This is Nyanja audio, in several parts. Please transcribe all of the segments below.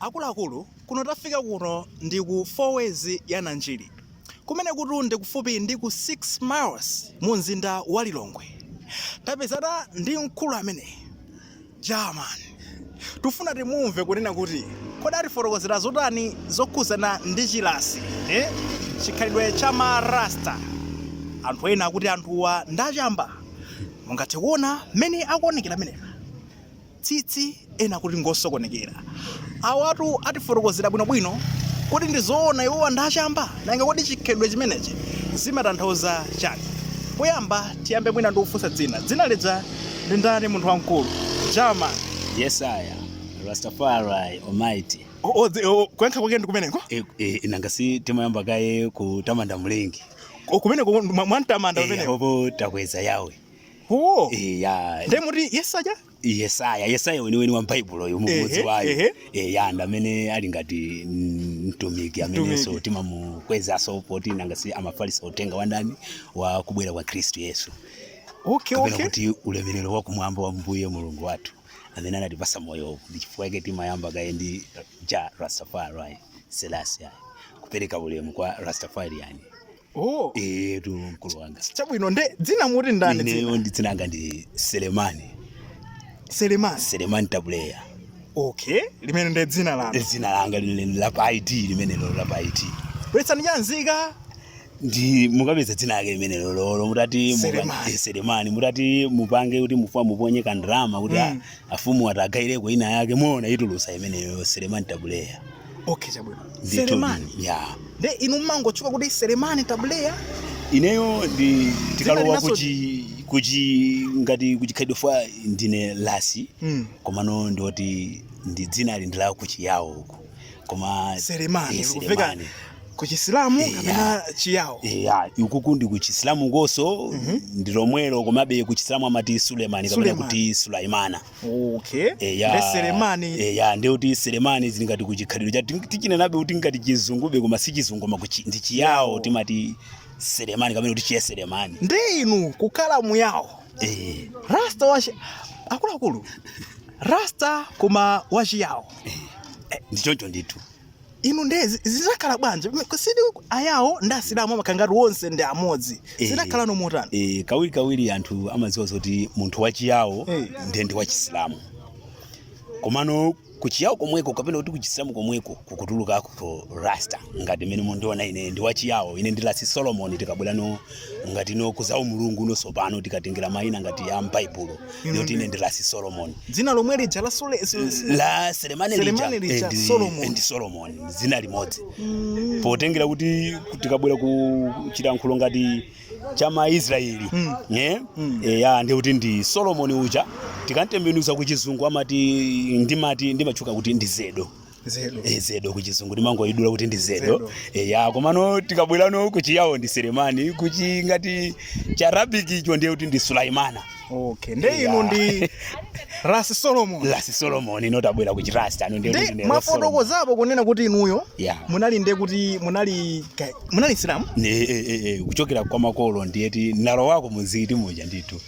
Akuluakulu, kuno tafika kuno ndi ku 4 ways ya Nanjiri. Kumenekutu ndi kufupi ndi ku 6 miles mu mzinda wa Lilongwe. Tapezana ndi mkulu ameneyi. Jah man. Tufuna timumve kunena kuti kodi atifotokozera zotani zokhuzana ndi chirasi, eh? Chikhalidwe cha ma Rasta. Anthu ena akuti anthuwa ndi achamba. Mungathe kuona mmene akuonekera amenewa. tsitsi ena akuti ngosokonekera. Awatu atifotokozera bwinobwino. Kodi ndi zoona iwowa ndi achamba? Nanga kodi chikhalidwe chimenechi zimatanthauza chani? Poyamba tiyambe mwina ndi kufunsa dzina. Dzina lija ndi ndani munthu wamkulu? Jah man. Yes, I am. Rastafari Almighty. Oh, oh, the- oh, kuyankha kwake ndi kumeneko? E, e, nanga si timayamba kaye kutamanda mlengi Oh, kumeneko mwa- mwamtamanda Eh, kumeneko. apo takweza yawe Oh. eya Ndiye muti Yesaya? yesaya yesaya weniweni wa m'Baibulo uyu Ehe, mmodzi wa iwo ehe. eya ndi amene ali ngati mm, mtumiki amenenso Mtumiki. timamukwezaso poti nanga si amafalisa uthenga wa ndani wa kubwera kwa khristu yesu Okay, kapena okay. kuti ulemerero wa kumwamba wa mbuye mulungu wathu amene anatipasa moyo ndi chifukwa chake timayamba kaye ndi Jah rastafari selasi kupereka ulemu kwa rastafariyani Oh, etu mkulu wanga chabwino nde dzina muti ndani ineyo dzina ndi dzina langa ndi selemani selemani selemani tabuleya okay limene ndi dzina lanu dzina langa lili la pa id limenelo la pa id bweretsani chanzika ndi mukapeza dzina lake limenelo lolo mutati mupa- Selemani. eh, selemani mutati mupange kuti mufuna muponye kandalama kuti Mm. mm. Afumu ati agaireko ina yake muona itulutsa imeneyo Selemani Tabuleya. Okay chabwino. Ndithu, Selemani. Yeah. Nde inu mmangotchuka kuti Selemani Tabuleya. Ineyo ndi tikalowa linaso- kuchi kuchi ngati kuchikhalidwe chifukwa ndine rasi Mm. komano ndioti ndi dzina lili ndi la kuchiyawo uko. koma selemani Eh, likuveka Selemani. ku chisilamu Eh, kapena chiyawo eya ukuku ndi kuchisilamu ukoso ndi lomwelo komabe kuchisilamu amati sulemani kapena Sulemani. kuti sulaimana okay eya ndi selemani eya ndi kuti selemani zili ngati kuchikhalidwe cha tichinenabe kuti ngati chizungube koma si chizungu koma kuchi- ndi chiyawo timati selemani kapena kuti chiye selemani ndi inu kukhala muyawo Eh. rasta wachi akuluakulu rasta koma wachiyawo ndichoncho ndithu inu nde zi- zidakhala bwanji si ayawo ndi asilamu amakhala ngati onse ndi amodzi Eh. zidakhala no motani e, kawirikawiri anthu amadziwa zoti munthu wachiyawo Eh. ndiye ndi wachisilamu komano kuchiyawo komweko kapena kuti kuchisilamu komweko kukutulukako rasta ngati mmene mundiona ine ndi wachiyawo ine ndi rasi solomoni tikabwerano ngati ino kuzaumulungu no sopano tikatengera maina ngati ya mbaibulo ndiye kuti ine ndi rasi solomoni dzina lomwe lija la sole la selemani lija ndi solomoni dzina limodzi potengera kuti tikabwera ku chilankhulo ngati cha maisraeli Mm. ne Mm. eya ndi kuti ndi solomoni uja tikamtembenuza ku chizungu amati ndimati ndimatchuka kuti ndi zedo zedo e, zedo kuchizungu ndimangoidula kuti ndi zedo e, ya komano tikabwerano kuchiyawo ndi selemani kuchi ngati chiarabic icho ndiye kuti ndi sulaimana okay nde Yeah. inu ndi rasi solomon rasi solomon no tabwera kuchirasta uno ndiye kuti ndi rasi solomon mumafotokozapo kunena kuti inuyo Yeah. munali nde kuti munali ka- munali msilamu Ne- e, e, e, kuchokera kwa makolo ndiyeti nalo wako mzikiti muja ndithu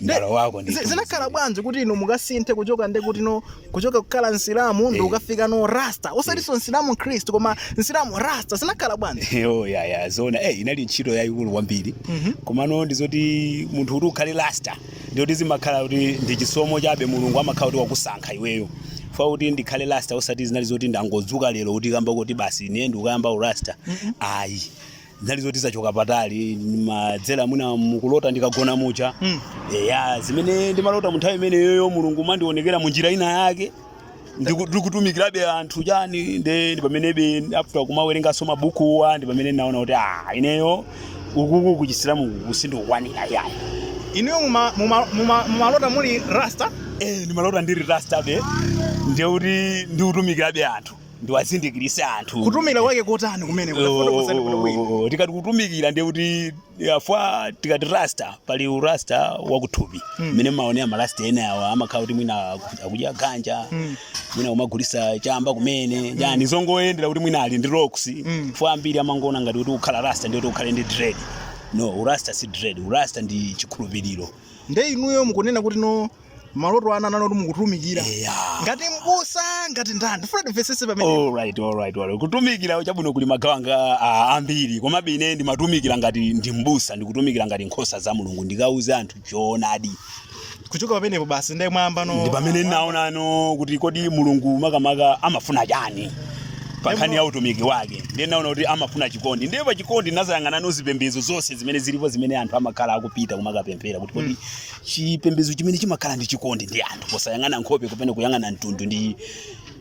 nalo wako nde zinakhala bwanji kuti inu mukasinthe kuchoka ndi kuti no kuchoka kukhala msilamu ndi eh. kukafikano rasta osatinso eh. msilamu mkhristu koma msilamu rasta zinakhala bwanji eh, oh ya ya zona eh inali ntchito yayikulu kwambiri mhm. komano ndi zoti munthu kuti ukhale rasta ndiye kuti zimakhala kuti ndi chisomo chabe mulungu amakhala kuti wakusankha iweyo ifa kuti ndikhale rasta osati zinali zoti ndangodzuka lero kutikamba kuti basi ine ndikuyamba urasta ayi mm -hmm. zinali zoti zachoka patali zimadzera mwina mukulota ndikagona muja Mm. eya zimene ndimalota munthawi imeneyoyo mulungu amandionekera mu njira ina yake Ndiku- ndikutumikirabe anthu chani nde ndi pamenebe after kumawerenganso mabukuwa ndi pamene ndinaona kuti ah ineyo ukuku kuchisilamu sindikukwanira yayi inuyo muma- muma- muma- mumalota muli rasta eh ndimalota ndiri rastabe ndiye kuti ndikutumikirabe anthu ndiwazindikirise anthu kutumikira kwake kotani kumene tafotokozani bwino Oh, tikati kutumikira ndiye kuti ifa tikati rasta pali urasta wakuthupi mmene maonera marasta ena awa amakhala kuti mwina aku- akudya ganja mwina kumagulisa chamba kumene yani zongoonera kuti mwina ali ndi locks ifa ambiri amangoona ngati kuti kukhala rasta ndiye kuti ukhale ndi dread no urasta si dread urasta ndi chikhulupiriro nde inuyo mukunena kuti no maloto anu anali kuti mukutumikira eya ngati mbusa ngati ndani ndifuna timvesese pamene alright alright alright kutumikira chabwino kuli magawo ake ah, ambiri komabe ine ndimatumikira ngati ndi mbusa ndikutumikira ngati nkhosa za mulungu ndikauze anthu choonadi kuchoka pamenepo basi ndiye mwayambano ndi pamene ndinaonano kuti kodi mulungu makamaka amafuna chani pa nkhani ya utumiki wake ndiye naona kuti amafuna chikondi ndiye pa chikondi nazayang'anano zipembedzo zonse zimene zilipo zimene anthu amakhala akupita kumakapemphera kuti kodi chipembedzo chimene chimakhala ndi chikondi ndi anthu posayang'ana nkhope kapena kuyang'ana mtundu ndi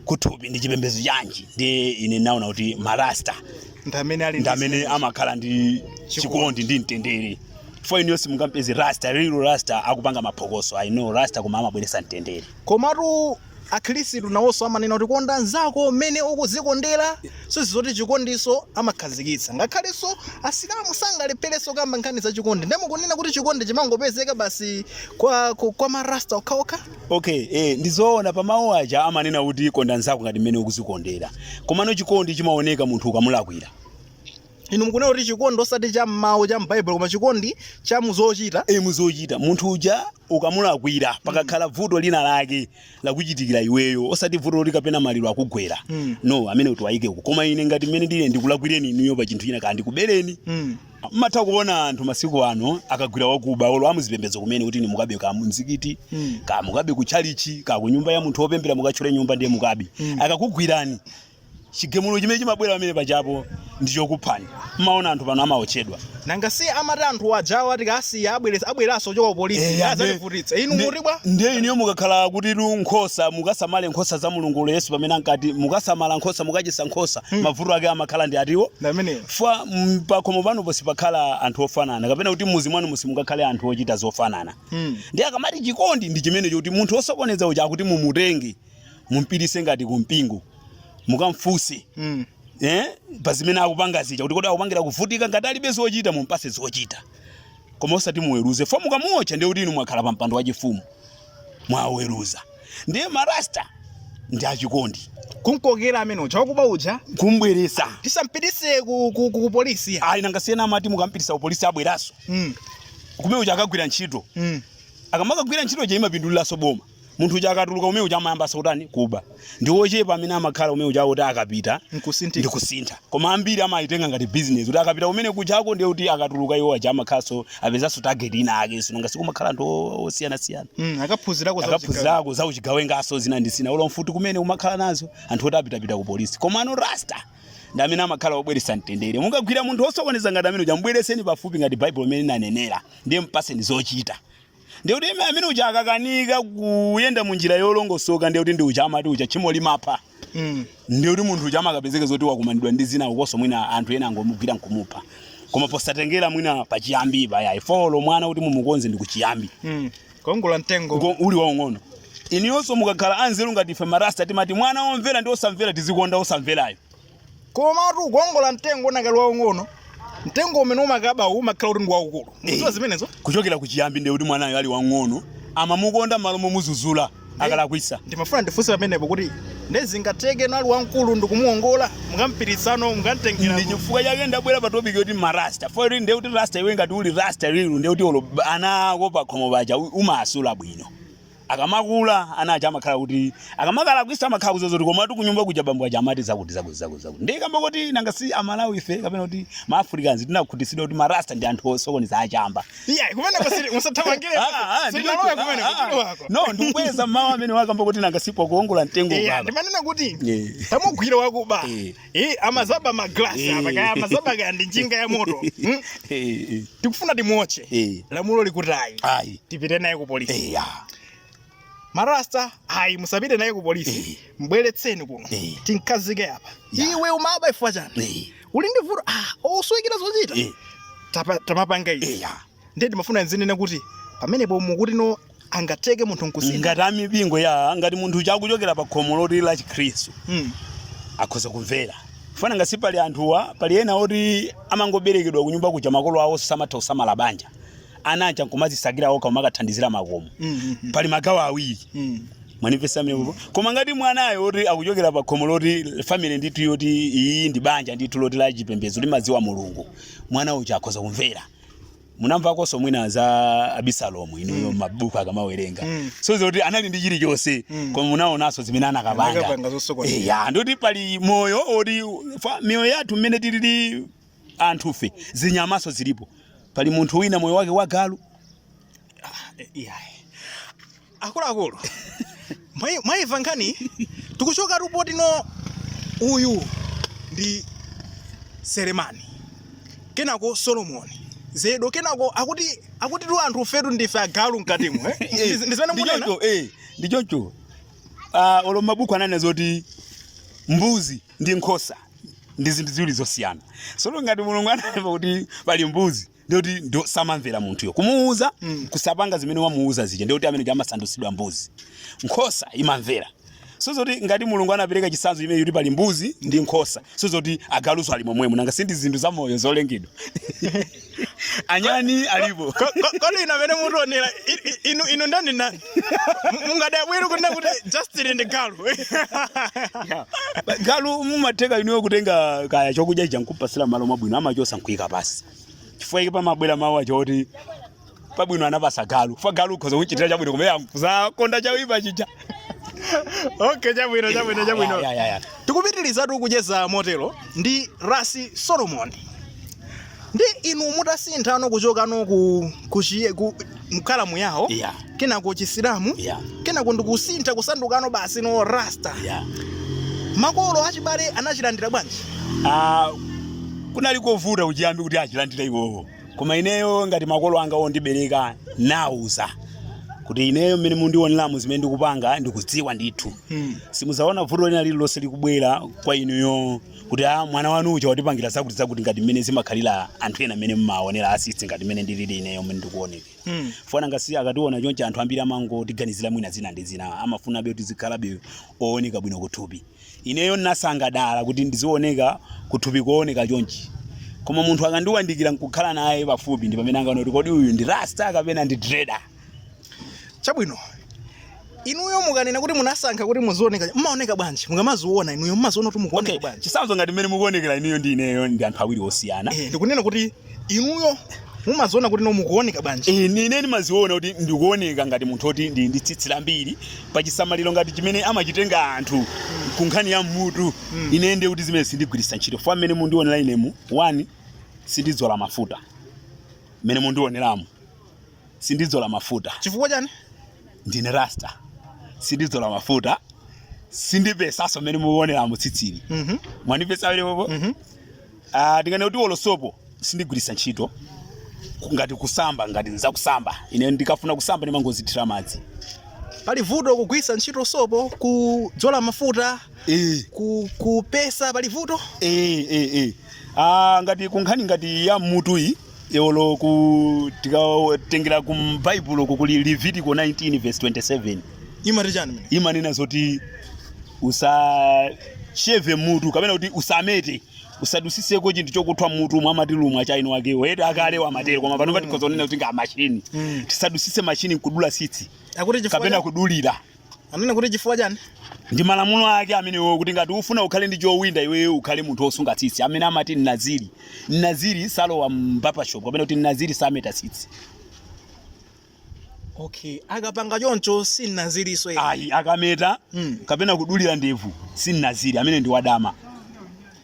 kuthupi ndi chipembedzo chanji ndiye ine naona kuti marasta ndi amene amakhala ndi chikondi ndi mtendere ifa inuyo simungampeze rasta real rasta akupanga maphokoso i know rasta koma amabweresa mtendere komatu Akhirisitu nawoso amanena kuti konda anzako mmene ukuzikondera sizi zoti chikondiso amakhazikitsa ngakhaleso asilamu sangalephereso kukamba nkhani za chikondi nde mukunena kuti chikondi chimangopezeka basi kwa kwa ma rasta okhaokha? Ok ee ndizoona pa mawu aja amanena kuti konda nzako ngati mmene ukuzikondera komano chikondi chimaoneka munthu ukamulakwira. Inu mukunena kuti chikondi osati cha mmawu cha m'baibulo koma chikondi cha muzochita? Ee muzochita munthu uja ukamulakwira pakakhala vuto lina lake lakuchitikira iweyo osati vuto loti kapena maliro akugwera Mm. no amenewo tiwayike uko koma ine ngati mmene ndili ndikulakwireni inuyo pa chinthu china ka ndikubereni Mm. mmatha kuona anthu masiku ano akagwira wakuba olo amuzipembedzo kumene kuti ni mukabe ka mumzikiti Mm. ka mukabe ku chalichi ka ku nyumba ya munthu wopembera mukatchole nyumba ndiye mukabe Mm. akakugwirani chigemulo chimene chimabwera pamene pajapo ndi chokuphani mmaona anthu pano amaotchedwa nangasi amati anthu ajawa tikasiya abweresa abweranso kuchoka upolisi Eh, ande- azativutitsa inu nde- mukuti bwa ndiye inuyo mukakhala kuti lu nkhosa mukasamale nkhosa za mulungu olo yesu pamene ankati mukasamale nkhosa mukachisa nkhosa mavuto ake amakhala ndi atiwo ndameneyo fo mm, pakhomo panupo sipakhala anthu ofanana kapena kuti muzi mwanumu simungakhale anthu ochita zofanana Mm. ndiye akamati chikondi ndi chimene choti munthu osokoneza uja akuti mumutenge mumpitise ngati ku mpingo mukamfunse Mm. eh, pa zimene akupanga zija kuti kodi akupangira kuvutika ngati alibe zochita mumpase zochita koma osati muweruze fo mukamuotcha ndiye kuti inu mwakhala pa mpando wachifumu mwaweruza ndiye marasta ndi achikondi kumkokera amene uja wakuba uja kumbweresa tisampitise ku, ku, ku, ku polisi ya ayi nangasi ena amati mukampitisa kupolisi abweraso mm. kumene uja akagwira ntchito mm. akamakagwira ntchito ija imapinduliraso boma munthu uja akatuluka kumene kuja amayambanso kutani kuba ndi ochepa amene amakhala kumene kuja kuti akapita nkusinthika kusintha koma ambiri amayitenga ngati business kuti akapita kumene kujako ndiye kuti akatuluka iwo aja amakhalanso apezanso target ina ake si nangasi kumakhala anthu o- osiyanasiyana Mm, akaphunzirako za akaphunzirako za uchigawengaso zina ndi zina olo mfuti kumene amakhala nazo anthu oti apitapita ku polisi komano rasta ndi amene amakhala obweretsa mtendere mukagwira munthu osokoneza ngati amene uja mbwereseni pafupi ngati baibulo imene inanenera ndiye mpaseni zochita Ndiye kuti ime- amene uja akakanika kuyenda mu njira yolongosoka ndiye kuti ndi uja amati uja tchimo limapha Mm. ndiye kuti munthu uja amakapezeka zoti wakumanidwa ndi zina ukoso mwina anthu ena angomugwira nkumupha koma posatengera mwina pachiyambi pa ayi fo mwana kuti mumukonze ndi kuchiyambi Mm. Kuongola mtengo. Ngo- uli waung'ono inuyonso mukakhala anzeru ngati ife marasta timati mwana womvera ndi osamvera tizikonda osamverayo komatu kuongola mtengo unakali waung'ono mtengo umene umakaba uwu umakhala kuti ndi waukulu mukudziwa zimenezo kuchokera kuchiyambi ndiye kuti mwanayo ali wamng'ono amamukonda malo momuzuzula akalakwisa ndimafuna ndifunse pamenepo kuti nde zingatheke ali wamkulu ndikumuongola mukampirisano mukamtengera ndi chifukwa chake ndabwera pa topic yoti marasta fo ndiye kuti rasta iwe ngati uli rasta real ndiye kuti olo ana ako pakhomo paja u- umasula bwino Akamakula ana aja amakhala kuti akamakalakwisa amakhala kudziwa zoti komatu kunyumba kuja bambo aja amati zakuti zakuti zakuti zakuti ndiye kamba koti nanga si amalawi ife kapena kuti ma africans tinakhutitsidwa kuti marasta ndi anthu osokoneza achamba iya kumene pasiri musathamangire Ah, ah, siri ndikuti- nalowe kumene ah, ah. kuchulu wako no ndikubweza mawu amene wakamba kuti nanga si pokuongola mtengo iya baba ndimanena kuti Yeah. tamugwira wakuba Eh. Eh, amazaba ma glass Eh. apa kaya amazaba kaya ndi njinga ya moto. Hmm? Eh, eh, Tikufuna timuotche. eh. Lamulo likutayi. Ayi. Tipite naye ku polisi. Eh, ya. Marasta, ayi musapite naye ku polisi. Eh. Mbweretseni kuno. Eh. Tinkazike apa. Ya. Iwe umaba ifwa chani. Eh, Uli ndi vuto. Ah, oswekira zochita. eh, Tapa- Tamapanga izi. eh, ya. ndiye ndimafuna ndinene kuti pamenepo mukuti no angateke munthu nkusintha ngati amipingo ya ngati munthu uja akuchokera pa khomo loti la chikhristu Mm. akhoza kumvera fanana ngati pali anthuwa pali ena oti amangoberekedwa kunyumba kuja makolo awo samatha kusamala banja ana aja nkumazisakira okha kumakathandizira makomo Mm, mm, mm. pali magawo awiri Mm. mwandipeza mmenepo koma ngati mwanayo oti akuchokera pa khomo loti family ndithu yoti iyi ndi banja ndithu loti la chipembedzo limadziwa mulungu mwana uja akhoza kumvera munamvakonso mwina za abisalomu inuyo mabuku akamawerenga Mm. so zoti anali ndi chilichonse Mm. koma munaonanso zimene anakapanga Anakapanga zosokoneza. Eh, ya ndiye kuti pali moyo oti fa- miyoyo yathu mmene tilili anthufe zinyamanso zilipo pali munthu wina moyo wake wagalu Eh, iyayi. akuluakulu mwayi- mwayimva nkhani tikuchoka ripoti no uyu ndi selemani kenako solomoni zedo kenako akuti akuti tu anthu fetu ndife agalu mkatimo eh? Ndi- ndi zimene mukunena? ndi choncho eh, ndi choncho Ah, olo mabuku ananena zoti mbuzi ndi nkhosa ndi zinthu ziwiri zosiyana so olo ngati mulungu ananena kuti pali mbuzi ndiye kuti ndi wosamamvera munthuyo kumuwuza kusapanga zimene wamuwuza zija ndiye kuti amene ndi amasandutsidwa mbuzi nkhosa imamvera so zoti ngati mulungu anapereka chitsanzo chimene kuti pali mbuzi ndi nkhosa so zoti agalunso ali momwemo nanga si ndi zinthu za moyo zolengedwa anyani alipo Ko- ko- kodi inu amene mutionera i- i- inu inu ndani nani mungadabwere kunena kuti justin ndi galu galu mumatheka inuyo kutenga kaya chokudya chija nkumpatsira malo abwino amachotsa nkuika pansi chifukwa chake pamabwera mawu aja oti pabwino anapatsa galu chifukwa galu ukhoza kuchitira chabwino kumene akudzakonda chawipa chija okay chabwino chabwino chabwino Ya, ya, ya. tikupitirizatu kucheza motero ndi rasi solomon ndi inu mutasinthano kuchokano ku kuchiye kukhala muyawo Yeah. kenako chisilamu Yeah. kenako ndikusintha kusandukano basi no rasta Yeah. makolo achibale anachilandira bwanji Ah, kunali kovuta kuchiyambi kuti achilandire iwowo koma ineyo ngati makolo anga ondibereka ndinawauza kuti ineyo mmene mundioneramu zimene ndikupanga ndikudziwa ndithu Hmm. simudzaona vuto lina lililonse likubwera kwa inuyo kuti a mwana wanu uja watipangira zakuti zakuti ngati mmene zimakhalira anthu ena mmene mmaonera asisi ngati mmene ndilili ineyo mmene ndikuoneka Mm. fa nanga si akationa chonchi anthu ambiri amangotiganizira mwina zina ndi zina amafunabe kuti zikhalabe ooneka bwino kuthupi ineyo ndinasankha dala kuti ndizioneka kuthupi kooneka chonchi koma munthu akandiwandikira nkukhala naye pafupi ndi pamene angaona kuti kodi uyu ndi rasta kapena ndi dreda chabwino inuyo mukanena kuti munasankha kuti muzioneka mumaoneka bwanji mukamaziona inuyo mumaziona kuti mukuoneka okay bwanji chisanzo ngati mmene mukuonekera inuyo ndi ineyo ndi anthu awiri osiyana Eh, ndikunena kuti inuyo mumaziona kuti no mukuoneka bwanji Eh, ine ndimaziona kuti ndikuoneka ngati munthu oti ndili ndi tsitsi lambiri pa chisamaliro ngati chimene amachitenga anthu ku nkhani ya mmutu Mm. ine ndiye kuti zimene sindigwiritsa ntchito fa mmene mundionera inemu one sindidzola mafuta mmene mundioneramu sindidzola mafuta chifukwa chani ndine rasta sindidzola mafuta sindipesaso mmene mukuoneramu tsitsili Mhm. mwanipesa amene popo Mhm. Ah, ndinganene kuti olo sopo sindigwiritsa ntchito ku- ngati kusamba ngati nzakusamba ine ndikafuna kusamba ndimangozithira madzi pali vuto kugwiritsa ntchito sopo kudzola mafuta Eh, ku- kupesa pali vuto eh, eh, eh. Ah, ngati kunkhani ngati ya mutu iyi olo ku tikatengera ku baibulo uko kuli levitiko 19 verse 27 imati chani imene imanena zoti usasheve mutu kapena kuti usamete usadusiseko chinthu chokuthwa mmutu mwa amati lumo cha ino wakewo eti akalewo amatero koma panopa tikhoza kunena kuti nga mashini Mm. tisadusise mashini nkudula tsitsi akuti chifukwa kapena cha- kudulira Anena kuti chifukwa chani? Ndi malamulo ake amenewo kuti ngati ufuna ukhale ndi chowinda iweyo ukhale munthu wosunga tsitsi amene amati naziri. Naziri salowa m'barber shop kapena kuti naziri sameta tsitsi. Okay, akapanga choncho si naziriso. Ayi akameta mm. kapena kudulira ndevu si naziri amene ndi wadama.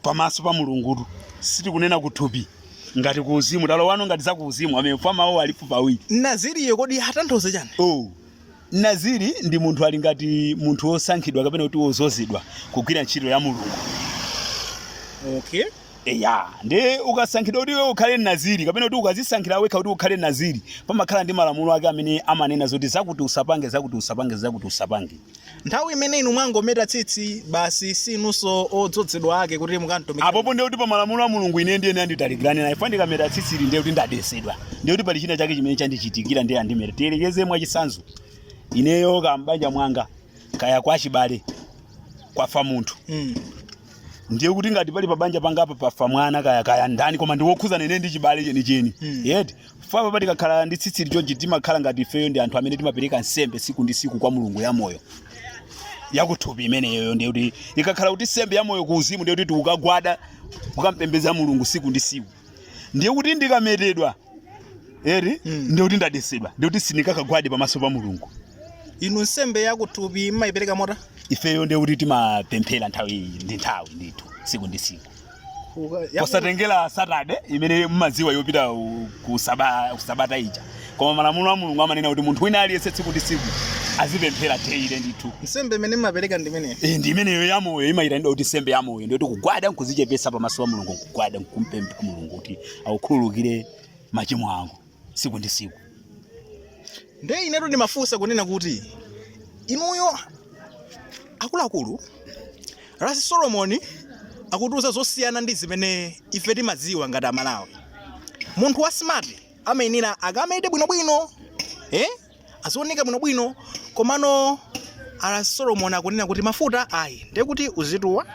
Pamaso pa Mulungu sitikunena kuthupi ngati ku uzimu talowano ngati za ku uzimu amene fa mawuwo alipo pawiri. Naziriyo kodi atanthauza chani? Oh. Naziri ndi munthu ali ngati munthu wosankhidwa kapena kuti wozozedwa kugwira ntchito ya Mulungu. Okay. Eya, ndi ukasankhidwa kuti iwe ukhale naziri kapena kuti ukazisankhira wekha kuti ukhale naziri, pamakhala ndi malamulo ake amene amanena zoti zakuti usapange, zakuti usapange, zakuti usapange. Nthawi imene inu mwangometa tsitsi basi si inunso odzodzedwa ake kuti mukamtumikire. Apopo ndiye kuti pa malamulo a Mulungu ine ndiye ndatalikirana naye. Fa ine ndikameta tsitsili ndiye kuti ndadesedwa. ndiye kuti pali china chake chimene chandichitikira ndiye andimeta tiyerekeze mwachitsanzo ineyo kaya m'banja mwanga kaya kwa chibale kwafa munthu Mm. ndiye kuti ngati pali pabanja pangapa pafa mwana kaya kaya ndani koma ndi wokhuzana nane ndi chibale chenicheni Mm. yeti ifepa patikakhala ndi tsitsi lichonchi timakhala ngati ifeyo ndi anthu amene timapereka nsembe siku ndi siku kwa mulungu ya moyo yakuthupi imeneyoyo ndiye kuti ikakhala kuti nsembe ya moyo ku uzimu ndiye kuti ukagwada ukampembedza mulungu siku ndi siku ndiye kuti ndikametedwa eti Mm. ndiye kuti ndadetsedwa ndiye kuti sindikakagwade pamaso pa mulungu inu nsembe yakuthupi mumayipereka motani ifeyo ndiye kuti timapemphera nthawi ndi nthawi ndithu tsiku ndi tsiku Uka- yaku- posatengera satade imene mumadziwa yopita u- ku saba- ku sabata ija Koma malamulo a Mulungu amanena kuti munthu wina aliyense tsiku ndi tsiku azipemphera daily ndithu. Nsembe imene mumapereka ndi imeneyo. Eh, ndi imeneyo ya moyo imayitanidwa kuti nsembe ya moyo ndiye kuti kugwada nkuzichepesa pamaso pa mulungu nkugwada nkumpempha mulungu kuti akukhululukire machimo ako tsiku ndi tsiku Ndiye inetu ndimafunsa kunena kuti inuyo akuluakulu Rasi Solomon akutiuza zosiyana ndi zimene ife timadziwa ngati Amalawi. Munthu wa smart amayenera akamete bwinobwino eh? azioneka bwinobwino komano a Ras Solomoni akunena kuti mafuta ayi ndiye kuti uzituwa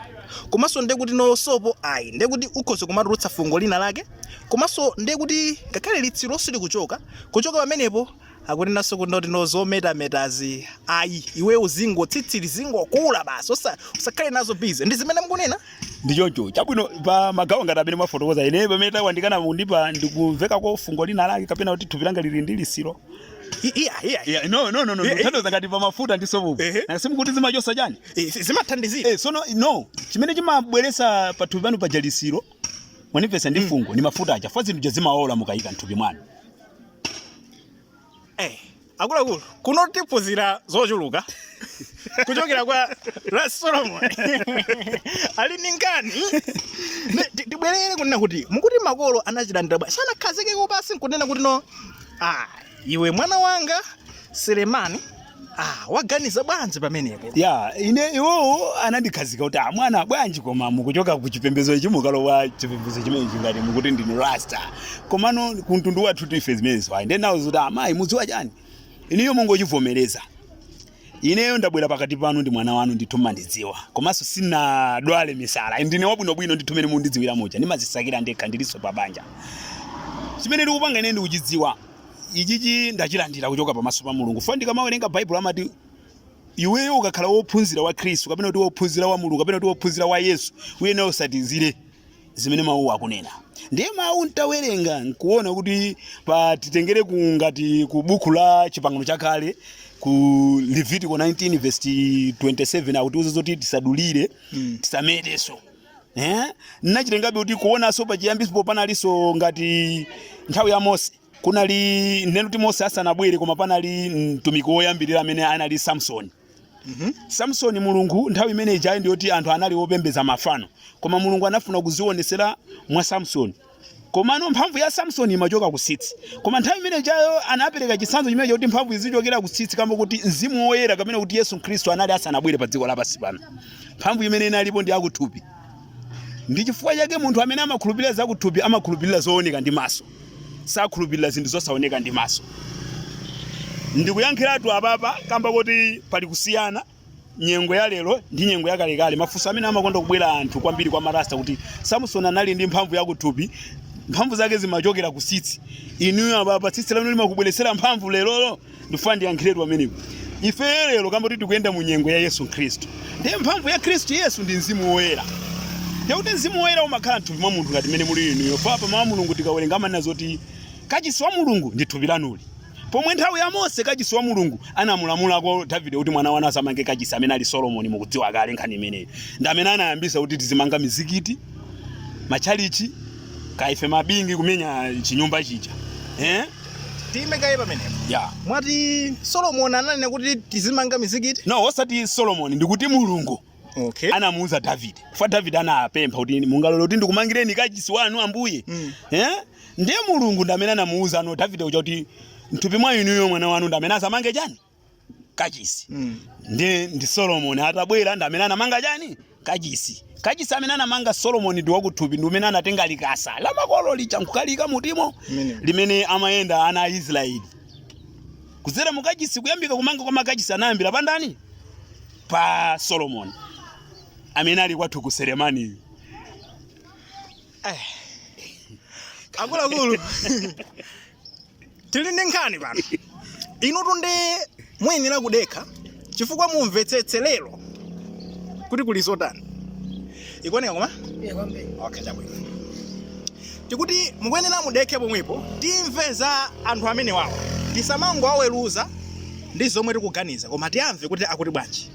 komanso ndiye kuti no sopo ayi ndiye kuti ukhoza kumatulutsa fungo lina lake komanso ndiye kuti ngakhale litsiro silikuchoka kuchoka pamenepo akunenanso kuti no zometametazi ayi iwe uzingo tsitsi lizingokula basi osa- usakhale nazo busy ndi zimene mukunena ndi choncho chabwino pa magawo ngati amene mwafotokoza ine pamene tawandikana mundipeza ndikumveka kwa fungo lina lake kapena kuti thupi langa lili ndi lisiro I- iya iya Yeah, no no no no Eh, eh. ndikuthandiza ngati pa mafuta ndi sopo Ehe. na simukuti zimachosa chani Eh, zi- zimathandizira eh sono no chimene chimabweresa pa thupi panu paja lisiro mwandipeza ndi fungo ni mafuta aja chifukwa zinthu zija zimaola mukayika mthupi mwanu Eh, akuluakulu kuno tiphunzira zochuluka kuchokera kwa Ras Solomon ali ndi nkhani Ne- ti- tibwerere kunena kuti mukuti makolo anachilandira bwanji sanakhazikeko pasi nkunena kuti no ah, iwe mwana wanga Selemani ah waganiza bwanji pamenepo ya ine iwowo anandikhazika kuti "Ah, mwana bwanji koma mukuchoka ku chipembedzo ichi mukulowa chipembedzo chimene chingati mukuti ndinu rasta komano ku mtundu wathu ife zimenezo ayi nde ndawauza kuti amayi mudziwa chani ineyo mungochivomereza ineyo ndabwera pakati panu ndi mwana wanu ndithu mwandidziwa komanso sindinadwale misala ndine wabwinobwino ndithu mene mundidziwira muja ndimazisakira ndekha ndilinso pa banja chimene ndikupanga ine ndikuchidziwa ichichi ndachilandira kuchoka pamaso pa mulungu fo ndikamawerenga baibulo amati iweyo ukakhala wophunzira wa khristu kapena kuti wophunzira wa mulungu kapena kuti wophunzira wa yesu uyenera utsatizire zimene mawuwo akunena ndiye mawu ntawerenga nkuona kuti patitengere ku ngati ku buku la chipangano chakale ku levitiko 19 vesi 27 akutiuza zoti tisadulire tisametenso eh nachitengabe kuti kuonanso pachiyambisipo panalinso ngati nthawi ya mose kunali ndinene kuti mose asanabwere koma panali mtumiki woyambirira amene anali samsoni samsoni mulungu nthawi imene ijayi ndiyoti anthu anali opembedza mafano koma mulungu anafuna kudziwonetsera mwa samsoni Komano mphamvu ya Samsoni imachoka ku tsitsi. Koma nthawi imene ijayo anapereka chitsanzo chimene chakuti mphamvu izichokera ku tsitsi kamba kuti mzimu woyera kapena kuti Yesu Khristu anali asanabwere pa dziko lapansi pano. Mphamvu imene inalipo ndi yakuthupi. Ndi chifukwa chake munthu amene amakhulupirira zakuthupi amakhulupirira zooneka ndi maso. Sakhulupirira zinthu zosaoneka ndi maso. Ndikuyankhiratu apapa kamba kuti pali kusiyana. nyengo ya lero ndi nyengo yakalekale mafunso amene amakonda kubwera anthu kwambiri kwa marasta kuti samsoni anali ndi mphamvu yakuthupi mphamvu zake zimachokera ku tsitsi inuyo apapa tsitsi lanu limakubweretserani mphamvu lerolo ndifuna ndiyankhiretu pamenepo ife lero kamba kuti tikuyenda mu nyengo ya yesu khristu ndiye mphamvu ya khristu yesu ndi mzimu woyera ndiye kuti mzimu woyera umakhala mthupi mwa munthu ngati mmene muli inuyo paja mawu a mulungu tikawerenga amanena zoti kachisi wa mulungu ndi thupi lanuli Pomwe nthawi ya Mose kachisi wa Mulungu anamulamulako Davide kuti mwana wanu adzamange kachisi amene ali Solomoni mukudziwa kale nkhani imeneyi. Ndi amene anayambitsa kuti tizimanga mizikiti, machalichi, kwa ife mabingi kumenya chinyumba chija. Eh? Tiime kaye pamenepo. Yeah. Mwati Solomoni ananena kuti tizimanga mizikiti? No, osati Solomoni ndikuti Mulungu. okay. anamuuza davide fa davide anapempha kuti mungalole kuti ndikumangireni kachisi wanu ambuye Mm. eh? ndiye mulungu ndi amene anamuuza ano davide uja kuti mthupi mwa inuyo mwana wanu ndi amene adzamange chani kachisi Mm. ndi ndi solomoni atabwera ndi amene anamanga chani kachisi kachisi amene anamanga solomoni ndi wakuthupi ndi mmene anatenga likasa la makolo lija nkukalika mkatimo Mene. limene amayenda ana a israeli kudzera mu kachisi kuyambika kumanga kwa makachisi anayambira pa ndani pa Solomoni amene ali kwathuku Selemani. akuluakulu tili ndi nkhani pano inutu nde muyenera kudekha chifukwa mumvetsetse lero kuti kuli zotani ikuoneka koma Eh, kwambiri. okay chabwino tikuti mukuyenera mudekhe pomwepo timve za anthu amene wawo tisamangowaweruza ndi zomwe tikuganiza koma tiwamve kuti akuti bwanji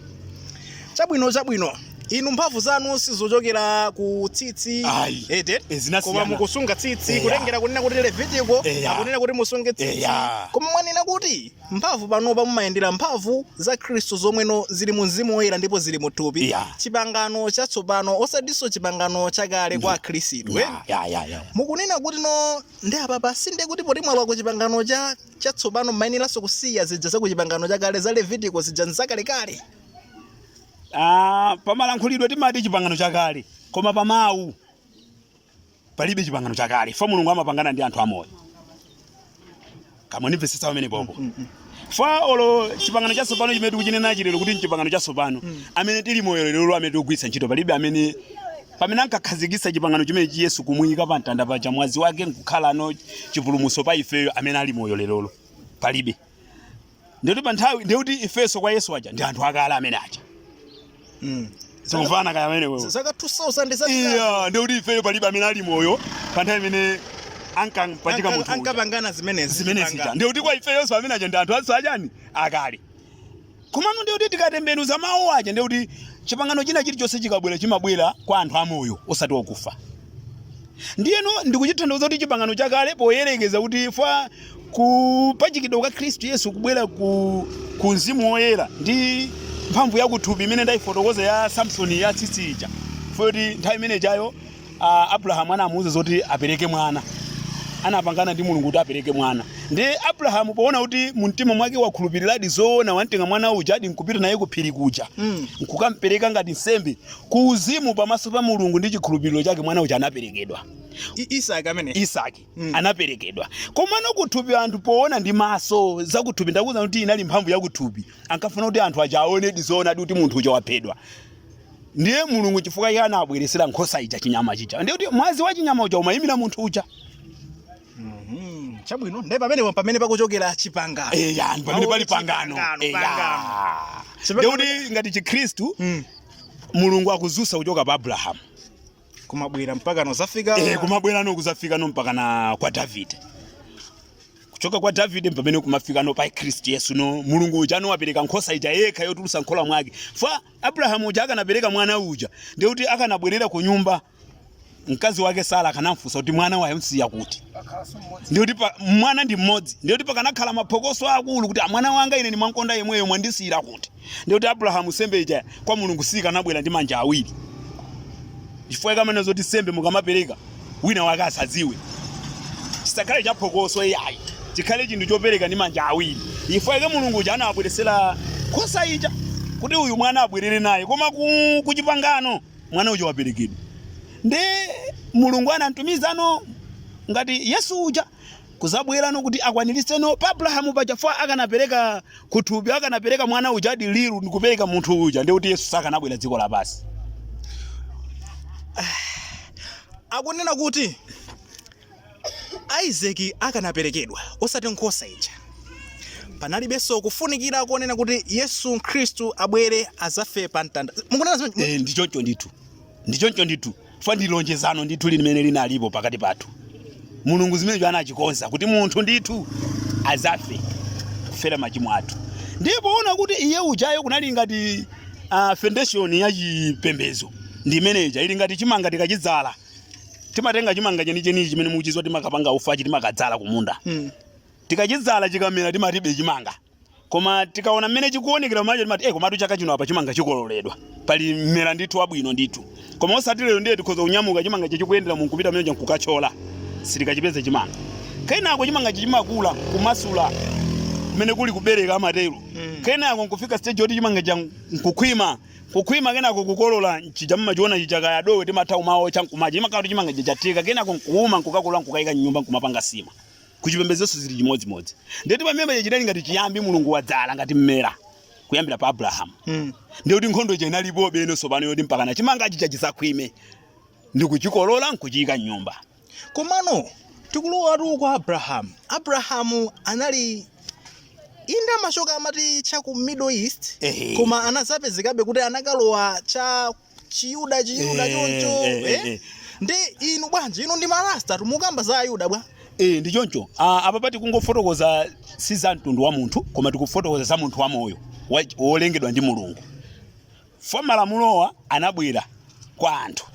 chabwino chabwino inu mphamvu zanu sizochokera ku tsitsi Ayi. ete Eh, zinasiyana. koma mukusunga tsitsi Eya. kutengera kunena kuti levitiko Eya. akunena kuti musunge tsitsi Eya. koma mwanena kuti mphamvu panopa mumayendera mphamvu za khristu zomweno zili mu mzimu woyera ndipo zili mu thupi Yeah. chipangano chatsopano osatinso chipangano chakale kwa akhristu eh? Ya, ya, ya, ya. mukunena kuti no ndi apapa si ndiye kuti poti mwalowa ku chipangano chatsopano mmayeneranso kusiya zija za ku chipangano chakale za levitiko zija nzakalekale Ah, pamalankhulidwe timati chipangano chakale koma pamawu palibe chipangano chakale fo mulungu amapangana ndi anthu amoyo mundimvetsetse pamenepopo mm, mm, mm. fa olo chipangano chatsopano chimene tikuchinenachi lero kuti mchipangano chatsopano amene tili moyo lero amene tikugwiritsa ntchito palibe amene pamene ankakhazikitsa chipangano chimenechi yesu kumuyika pa mtanda paja mwazi wake nkukhalano chipulumutso pa ifeyo amene ali moyo lerolo palibe ndikuti pa nthawi ndikuti ifenso kwa yesu aja ndi anthu akale amene aja Mm. zikumvana kaya mwamene wewe zaka 2000 za iya ndikuti ifeyo palibe amene ali moyo pa nthawi imene ankampachika munthu uja. ankapangana zimenezi zimenezi Kupanga. ja ndikuti kwa ifeyonso amene aja ndi anthu aja akale komano ndikuti tikatembenuza mawu aja ndikuti chipangano china chilichonse chikabwera chimabwera kwa anthu amoyo osati okufa ndiyeno ndikuchithauza kuti chipangano chakale poyerekeza kuti fa kupachikidwa kwa khristu yesu kubwera ku, ku mzimu woyera ndi mphamvu yakuthupi imene ndayifotokoza ya samsoni ya tsitsi ija foti nthawi imene ijayo uh, abrahamu anamuwuza zoti apereke mwana anapangana ndi mulungu kuti apereke mwana ndi abrahamu poona kuti mumtima mwake wakhulupiriradi zoona wamtenga mwana ujadi nkupita naye kuphiri kuja Mm. nkukampereka ngati nsembe ku uzimu pamaso pa mulungu ndi chikhulupiriro chake mwana uja anaperekedwa I- isaki amene isaki Mm. anaperekedwa komano kuthupi anthu poona ndi maso zakuthupi ndakuuzani kuti inali mphamvu yakuthupi ankafuna kuti anthu aja aonedi zoonadi kuti munthu uja waphedwa ndiye mulungu chifukwa iye anabweresera nkhosa ija chinyama chija ndiye kuti mwazi wa chinyama uja umayimira munthu uja Mhm. chabwino ndiye pamenepo pamene pakuchokera chipangano eya ndi pamene pali pangano Pangano, eya pangano. ndiye kuti ngati chikhristu Mm. mulungu akudzutsa kuchoka pa abrahamu kumabwera mpaka nozafika eh, kumabwera no kuzafika no mpaka na kwa davide kuchoka kwa davide mpamene kumafika no pa kristu yesu no mulungu uja anapereka nkhosa ija yekha yotulusa nkhola mwake fa abrahamu uja akanapereka mwana uja ndiye kuti akanabwerera ku nyumba mkazi wake sara akanamfunsa kuti mwana wamsiya kuti ndiye kuti pa- mwana ndi mmodzi ndiye kuti pakanakhala maphokoso akulu kuti "Ah, mwana wanga ine ndimamkonda yemweyo mwandisiyira kuti ndiye kuti abrahamu nsembe ija kwa mulungu sikanabwera ndi manja awiri chifukwa ikamene zoti nsembe mukamapereka wina wake asadziwe chisakhale chaphokoso iyayi chikhale chinthu chopereka ndi manja awiri chifukwa chake mulungu uja anabweresera nkhosa ija kuti uyu mwana abwerere naye koma ku, ku chipangano mwana uja waperekedwa ndi mulungu anamtumiza no ngati yesu uja kuzabwera no kuti akwaniritse no pa Abrahamu paja chifukwa akanapereka kuthupi akanapereka mwana uja adi liru ndikupereka munthu uja ndi kuti Yesu sakanabwera dziko lapansi akunena kuti isaki akanaperekedwa osati nkhosa ija panalibenso kufunikira konena kuti yesu khristu abwere azafe pa mtanda mukunena zimene- eh ndi choncho ndithu ndi choncho ndithu chifukwa ndi lonjezano ndithu limene linalipo pakati pathu mulungu zimenezo anachikonza kuti munthu ndithu azafe kufera machimo athu ndipo ona kuti iye ujayo kunali ngati uh, foundation ya chipembedzo ndi imeneja ili ngati chimanga tikachidzala timatenga chimanga chenicheni chi chimene mukuchidziwa timakapanga ufa chi timakadzala kumunda Mm. tikachidzala chikamera timati be chimanga Koma tikaona mmene chikuonekera kumacho timati eh komatu chaka chino apa chimanga tikolola edwa. Pali mmera ndithu wabwino ndithu. Koma osati lero ndiye tikhoza kunyamuka chimanga ichi chikuyendera mu nkupita mmene nkukachola. Sitikachipeze chimanga. Kenako chimanga ichi chimakula kumasula kumene kuli kubereka amatero. Kenako nkufika stage yoti chimanga chija nkukhwima. Kukhwima kenako kukolola nchija mmachiona chija kaya dowe timatha kumaotcha nkumadya. Chimakhala kuti chimanga chija chatheka kenako nkuuma nkukakolola nkukayika m'nyumba nkumapanga nsima. Kuchipembedzonso zili chimodzimodzi. Ndiye kuti pamene chinali ngati chiyambi Mulungu wadzala ngati mmera kuyambira pa Abrahamu. Mm. Ndiye kuti nkhondo ija inalipobe no tsopano yoti mpakana chimanga chija chisakhwime ndi kuchikolola nkuchiyika m'nyumba. Komano tikulowatu kwa Abrahamu. Abrahamu anali inde amachoka amati cha ku Middle East Ehe. koma anazapezekabe kuti anakalowa cha Chiyuda Chiyuda Eh, choncho eh, eh, eh? eh. ndi inu bwanji inu ndi marasta timakamba za ayuda bwa Eh, ndi choncho Ah, apa pati kungofotokoza si za mtundu wa munthu koma tikufotokoza za munthu wamoyo wa- wolengedwa ndi mulungu chifukwa malamulowa anabwera kwa anthu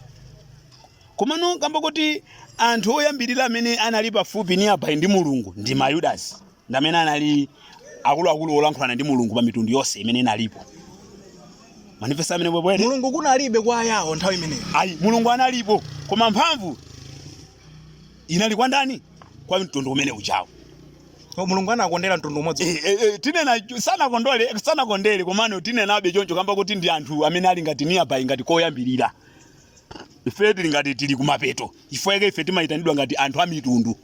komano kamba kuti anthu oyambirira amene anali pafupi nearby ndi mulungu ndi mayudasi ndi amene anali akuluakulu olankhulana ndi mulungu pa mitundu yonse imene inalipo manifesa amene bwebwede mulungu kunalibe kwa ayawo nthawi imeneyo ayi mulungu analipo koma mphamvu inali kwa ndani kwa mtundu umene ujawo O, mulungu anakondera mtundu umodzi Eh, eh, eh, tinena sanakondole sanakondere komano tinenabe choncho kamba kuti ndi anthu amene ali ngati nearby ngati koyambirira ife tili ngati tili kumapeto ife ife timayitanidwa ngati anthu a mitundu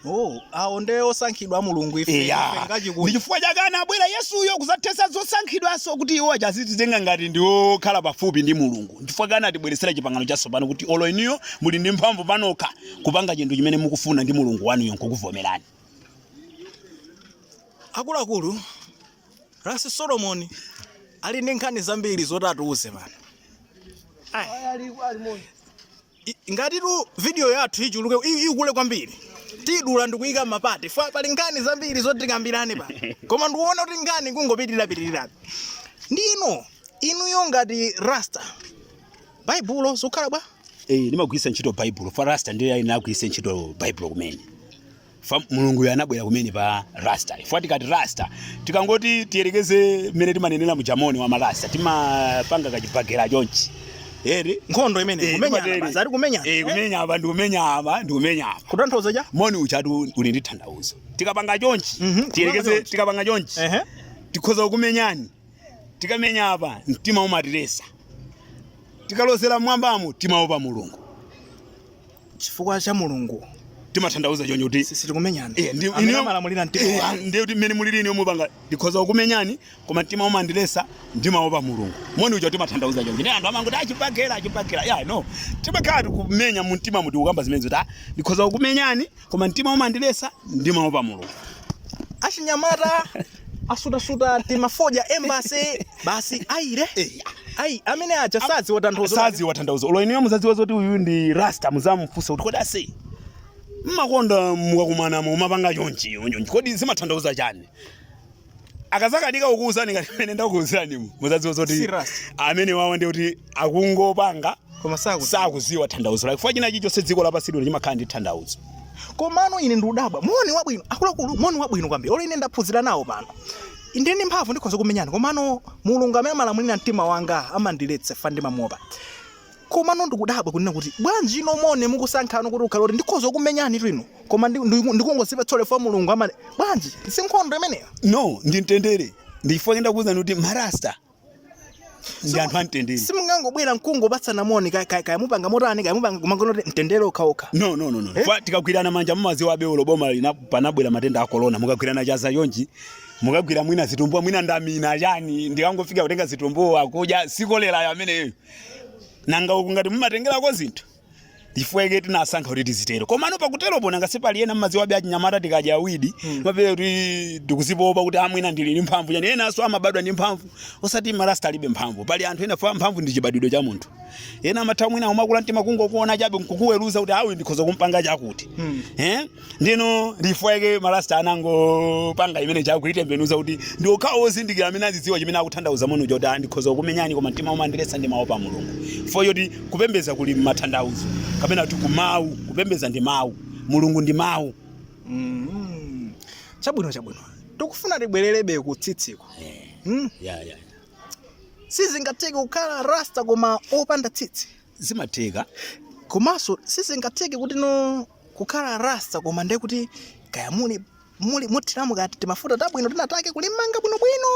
Oh, awo nde osankhidwa a mulungu ife ife eya ndi ngachikulu chifukwa chake anabwera yesuyo kuzathetsa zosankhidwanso kuti iwo achazitenga ngati ndi okhala pafupi ndi mulungu chifukwa chake anatibweretsera chipangano chatsopano kuti olo inuyo muli ndi mphamvu panokha kupanga chinthu chimene mukufuna ndi mulungu wanuyo nkukuvomerani akuluakulu rasi solomoni ali ndi nkhani zambiri zoti atiuze pano I- ngatitu video yathu ichuluke i- ikule kwambiri tidula ndikuyika mmapati fa pali nkhani zambiri zoti tikambirane pa koma ndikuona kuti nkhani ikungopitirirapitirira ndiyeno inuyo ngati rasta baibulo zikukhala bwa Eh, ndimagwiritsa ntchito baibulo fa rasta ndiye anagwiritsa ntchito baibulo kumene fa mulunguyo anabwera kumene pa rasta chifukwa tikati rasta tikangoti tiyerekeze mmene timanenera muja moni wa marasta timapanga kachibakera chonchi eti nkhondo imene Eh, kumenyana kumatero. basi ari kumenyana Eh, kumenya apa ndi kumenya apa ndi kumenya apa kutanthauza cha moni ujatu uli ndi thandauzo tikapanga chonchi Mhm, kupanga tiyerekeze chonchi. tikapanga chonchi ehe tikhoza kumenyani tikamenya apa mtima umatiletsa tikalozera mmwambamo timaopa mulungu chifukwa cha mulungu timathandauza choncho kuti Si- sitikumenyana Eh, ndi- amene inuyo- amalamulira mtima eh, wanu. ndiye kuti mmene mulili inuyo mupanga ndikhoza kukumenyani koma mtima umandiletsa ndimaopa mulungu moni uja timathandauza choncho nde anthu amangoti a chibakera a chibakera ya no timakhala tikumenya mu mtimamu tikukamba zimene zoti "Ah, ndikhoza kukumenyani koma mtima umandiletsa ndimaopa mulungu achinyamata asutasuta timafodya embassy basi irie ai amene aja saziwa tanthauzo saziwa tanthauzo olo inuyo muzadziwa zoti uyu ndi rasta muzamufunsa kuti kodi ase mmakonda mukakumana mumapanga chonchi chonchi kodi zimatanthauza chani akazakanika kukuwuzani ngati mmene ndakuwuzirani muzadziwa zoti amene awawa ndi kuti akungopanga koma sakuti sakuziwa thandauzo lake fwa china chilichonse dziko lapansi lino chimakhala ndi thandauzo komano ine ndikudabwa moni wabwino akuluakulu moni wabwino kwambiri olo ine ndaphunzira nawo pano ndili ndi mphamvu ndikhoza kumenyana komano mulungu amene amalamulira mtima wanga amandiletsa fa ndimamuopa komano ndikudabwa kunena kuti bwanji inu moni mukusankha kuti ukhale kuti ndikhoza kumenyani bwino koma ndi- ndi- ndikungozipa tsole fa mulungu amene bwanji si nkhondo imeneyo no ndi mtendere ndichifukwa chake ndakuwuzani kuti marasta ndi anthu amtendere simungangobwera nkungopatsana moni kaya- kaya kaya mupanga motani kaya mupanga kumangonena kuti mtendere okhaokha no no no no Kwa- tikagwirana manja mumaziwa abeulo boma lina panabwera matenda a corona mukagwirana chanza chonchi mukagwira mwina zitumbuwa mwina ndamina chani ndikangofika kutenga zitumbuwa kudya si kolera ameneyo nanga uku ngati mumatengerako zinthu chifukwa chake tinasankha kuti tizitero komano pakuteropo nanga sipali ena mmaziwabe achinyamata tikadya awidi mapere kuti ndikuzipopa kuti a mwina ndili ndi mphamvu yani enanso amabadwa ndi mphamvu osati marasta alibe mphamvu pali anthu ena fa mphamvu ndi chibadwidwe cha munthu ena amatha mwina umakula mtima kungokuona chabe nkukuweruza kuti awa ndikhoza kumpanga chakuti eh ndiye nchifukwa chake marasta anangopanga imene chokuitembenuza kuti ndi okhawo ozindikira amene azidziwa chimene akuthandauza muno choti "Ah, ndikhoza kukumenyani koma mtima umandiletsa ndimaopa mulungu fo zoti kupembeza kuli mathandauzo kapena kuti kumawu kupembeza ndi mawu mulungu ndi mawu Mm. chabwino chabwino tikufuna tibwererebe ku tsitsiko mm. yeah, yeah. sizingatheke kukhala rasta koma opanda tsitsi zimatheka komanso sizingatheke kuti no kukhala rasta koma ndiye kuti kaya muli muli muthiramo kaya timafuta tabwino tinataketu kulimanga bwinobwino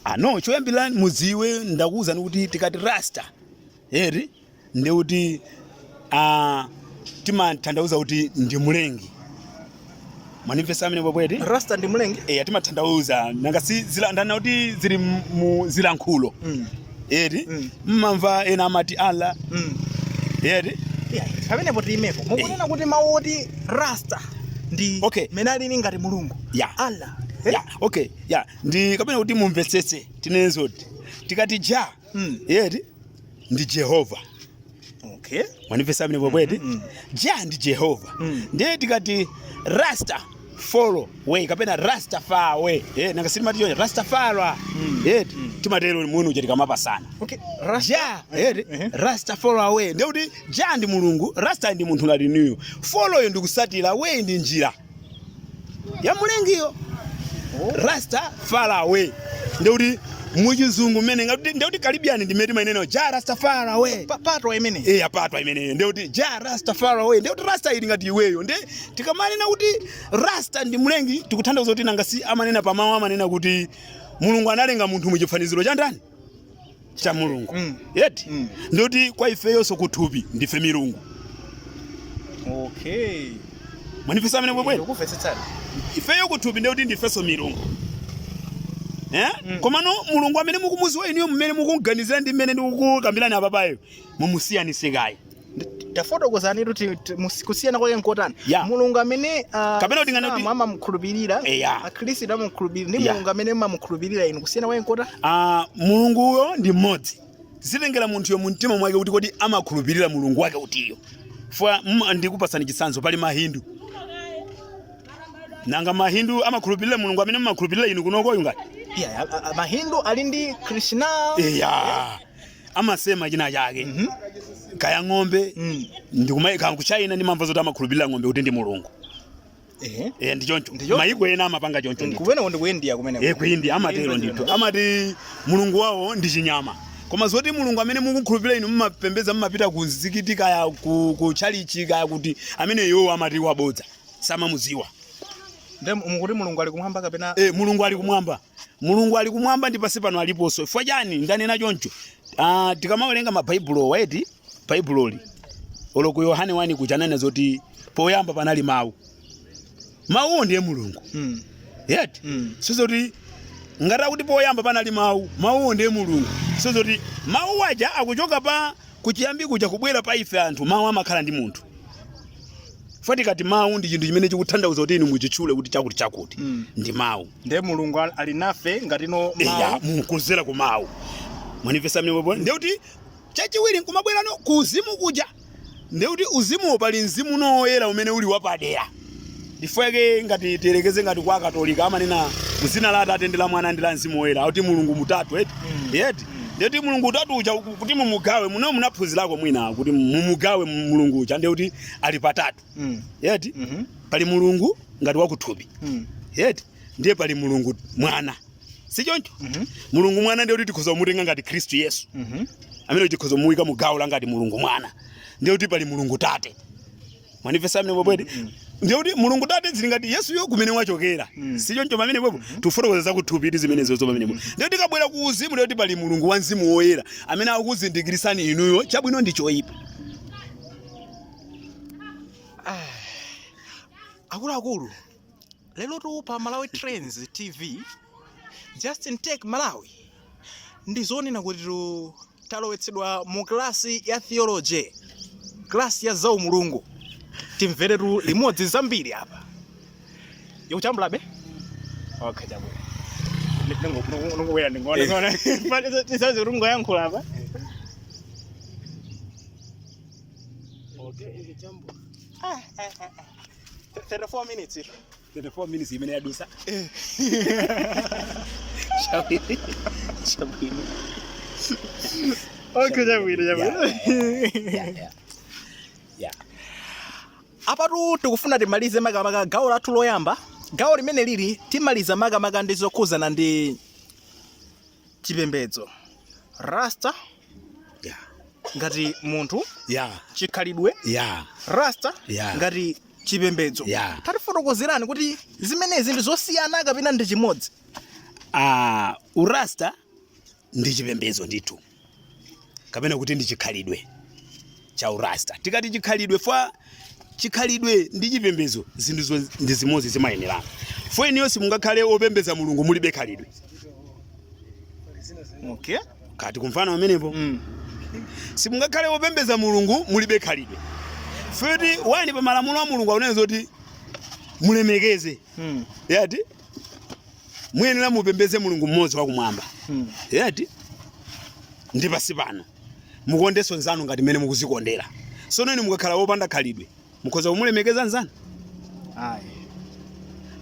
ah no choyambirira mudziwe ndakuwuzani kuti tikati rasta eri ndiye kuti ah, timatanthauza kuti ndi mlengi Mwandimvetsa pamenepo bwanawe eti? Rasta ndi mlengi? Eh, timatanthauza. Nanga si zilankhulo kuti zili mu zilankhulo. Mm. Eti? Mm. Mumamva ena amati Allah. Mm. Eti? Yeah, pamenepo tiimepo. Mukunena eh. kuti mawu oti Rasta ndi okay. mmene alili ngati mulungu. Yeah. Allah. Eh? Yeah. Okay. Yeah. Ndi kapena kuti mumvetsetse tinene zoti tikati ja Mm. eti ndi jehova Okay. mwandimvetsa pamenepo bwanawe eti Mm, mm. ja ndi jehova Mm. ndiye tikati rasta follow way kapena rasta far way eh nanga si timati choncho rasta far Mm. eti Mm. timatero muno uja tikamapasana Okay. Rasta. ja eti Ehe. rasta follow away ndiye kuti ja ndi mulungu rasta ndi munthu ngati ineyo follow-yo ndi kutsatira way ndi njira ya mlengiyo rasta far away ndiye kuti muchizungu mmene ngati ndiye kuti Caribbean ndi mmene timainenera ja rasta far away Pa- patwa imene Eh, apatwa imeneyo ndiye kuti ja rasta far away ndiye kuti rasta ali ngati iweyo nde tikamanena kuti rasta ndi mlengi tikuthandauza kuti nanga si amanena pamawu amanena kuti mulungu analenga munthu muchifaniziro cha ndani cha mulungu Mm. eti Mm. ndiye kuti kwa ifeyonso kuthupi ndife milungu okay mwandimvetsa pamenepo bwanawe eti ndikumvetsetsani ifeyo kuthupi ndekuti ndifenso milungu Eh? Mm. komano mulungu amene mukumudziwa inuyo mmene mukumganizira ndi mmene ndikukukambirani apapayo mumusiyanise kaye tafotokozani kuti ti- musi- kusiyana kwake nkotani Yeah. mulungu amene ah, Kapena kuti ngati- Asilamu amamukhulupirira Yeah. akhristu amamukhulupirira ndi Yeah. mulungu amene mumamukhulupirira inu kusiyana kwake nkotani Ah, mulunguyo ndi mmodzi zimatengera munthuyo mu mtima mwake kuti kodi amakhulupirira mulungu wake utiyo fwa mm, ndikupatsani chitsanzo pali mahindu nanga mahindu amakhulupirira mulungu amene mumakhulupirira inu kunokoyu ngati yeah, a- a- mahindu ali ndi krishna eya amasema china chake mm -hmm. kaya ng'ombe mm. ndi kumaiko ku China ndimamva zoti amakhulupirira ng'ombe kuti ndi mulungu eh eh ndi choncho maiko ena amapanga choncho ndithu kwina ndi ku India kumene eh ku India amatero ndithu amati mulungu wawo ndi chinyama koma zoti mulungu amene mukukhulupirira inu mumapembeza mumapita ku mzikiti kaya ku, ku chalichi kaya kuti ameneyo amati wabodza samamuziwa Nde mukuti Mulungu ali kumwamba kapena? Eh, Mulungu ali kumwamba. mulungu ali kumwamba ndi pansi pano aliponso chifukwa chani ndanena choncho ah, tikamawerenga mabaibulo yeti baibuloli olo ku yohane wani kuja ananena zoti poyamba panali mawu mawuwo ndiye mulungu Mm. yeti Mm. sizoti ngati akuti poyamba panali mawu mawuwo ndiye mulungu sizoti mawu aja akuchoka pa kuchiyambi kuja kubwera pa ife anthu mawu amakhala ndi munthu Chifukwa tikati mawu ndi chinthu chimene chikuthandauza kuti inu muchitchule kuti chakuti chakuti mm. ndi mawu. Ndiye Mulungu ali nafe ngati no mawu. Eya, mukuzera ku mawu. Mwanimvesa pamenepopo? Ndiye kuti chachiwiri nkumabwera no ku uzimu kuja. Ndiye kuti uzimu pali mzimu no oyera umene uli wapadera. Chifukwa yake ngati tiyerekeze ngati kwa Katolika amanena mzina la Atate ndi la Mwana ndi la Mzimu Woyera, kuti Mulungu mutatu eti. Mm. Yeti. ndiye kuti mulungu utatu uja uku- kuti mumugawe muno munaphunzirako mwina kuti mumugawe mu- mulungu uja ndiye kuti ali patatu Mm. yeti Mhm. pali mulungu ngati wakuthupi Mm. yeti ndiye pali mulungu mwana si choncho Mhm. mulungu mwana ndiye kuti tikhoza kumutenga ngati khristu yesu Mhm. amene tikhoza kumuwika mu gawo la ngati mulungu mwana ndiye kuti pali mulungu tate mwanimvesa pamenepopo eti ndiye kuti mulungu tate zili ngati yesuyo kumene wachokera si choncho pamenepopo tikufotokoza zakuthupitu zimenezozo pamenepopo ndiye tikabwera ku uzimu ndiye kuti pali mulungu wa mzimu woyera amene akukuzindikirisani inuyo chabwino ndi choyipa akuluakulu lerotu pa malawi trends tv justin take malawi ndi zonena kuti tu- talowetsedwa mu klasi ya theology klasi ya zaumulungu timveretu limodzi zambiri apa yikuchambulabe okay chambula ndingobwera ndingoona tisazi kuti ngoyankhula apa 34 minutes 34 minutes imene yadusa eh. chabwino chabwino okay chabwino chabwino apatu tikufuna timalize makamaka gawo lathu loyamba gawo limene lili timaliza makamaka ndi zokhuzana ndi chipembedzo rasta Yeah. ngati munthu Yeah. chikhalidwe Yeah. rasta Yeah. ngati chipembedzo Yeah. tatifotokozerani kuti zimenezi ndi zosiyana kapena ndi chimodzi Ah, urasta ndi chipembedzo ndithu kapena kuti ndi chikhalidwe cha u Rasta. Tikati chikhalidwe fwa chikhalidwe ndi chipembezo zinthu ndi zimozi zimayenderana. Fwa inuyo simungakhale opembeza mulungu mulibe khalidwe. Okay. Kaya tikumvana pamenepo. Mm. Simungakhale opembeza mulungu mulibe khalidwe. Fwa wani pa malamulo a mulungu akunena zoti mulemekeze. Mm. Yati? Muyenera mupembeze mulungu mmozi wakumwamba. Mm. Yati? Ndi pasi pano. Mukondenso nzanu ngati mmene mukuzikondera. Sono inu mukakhala wopanda khalidwe, mukhoza kumulemekeza nzanu? Ayi.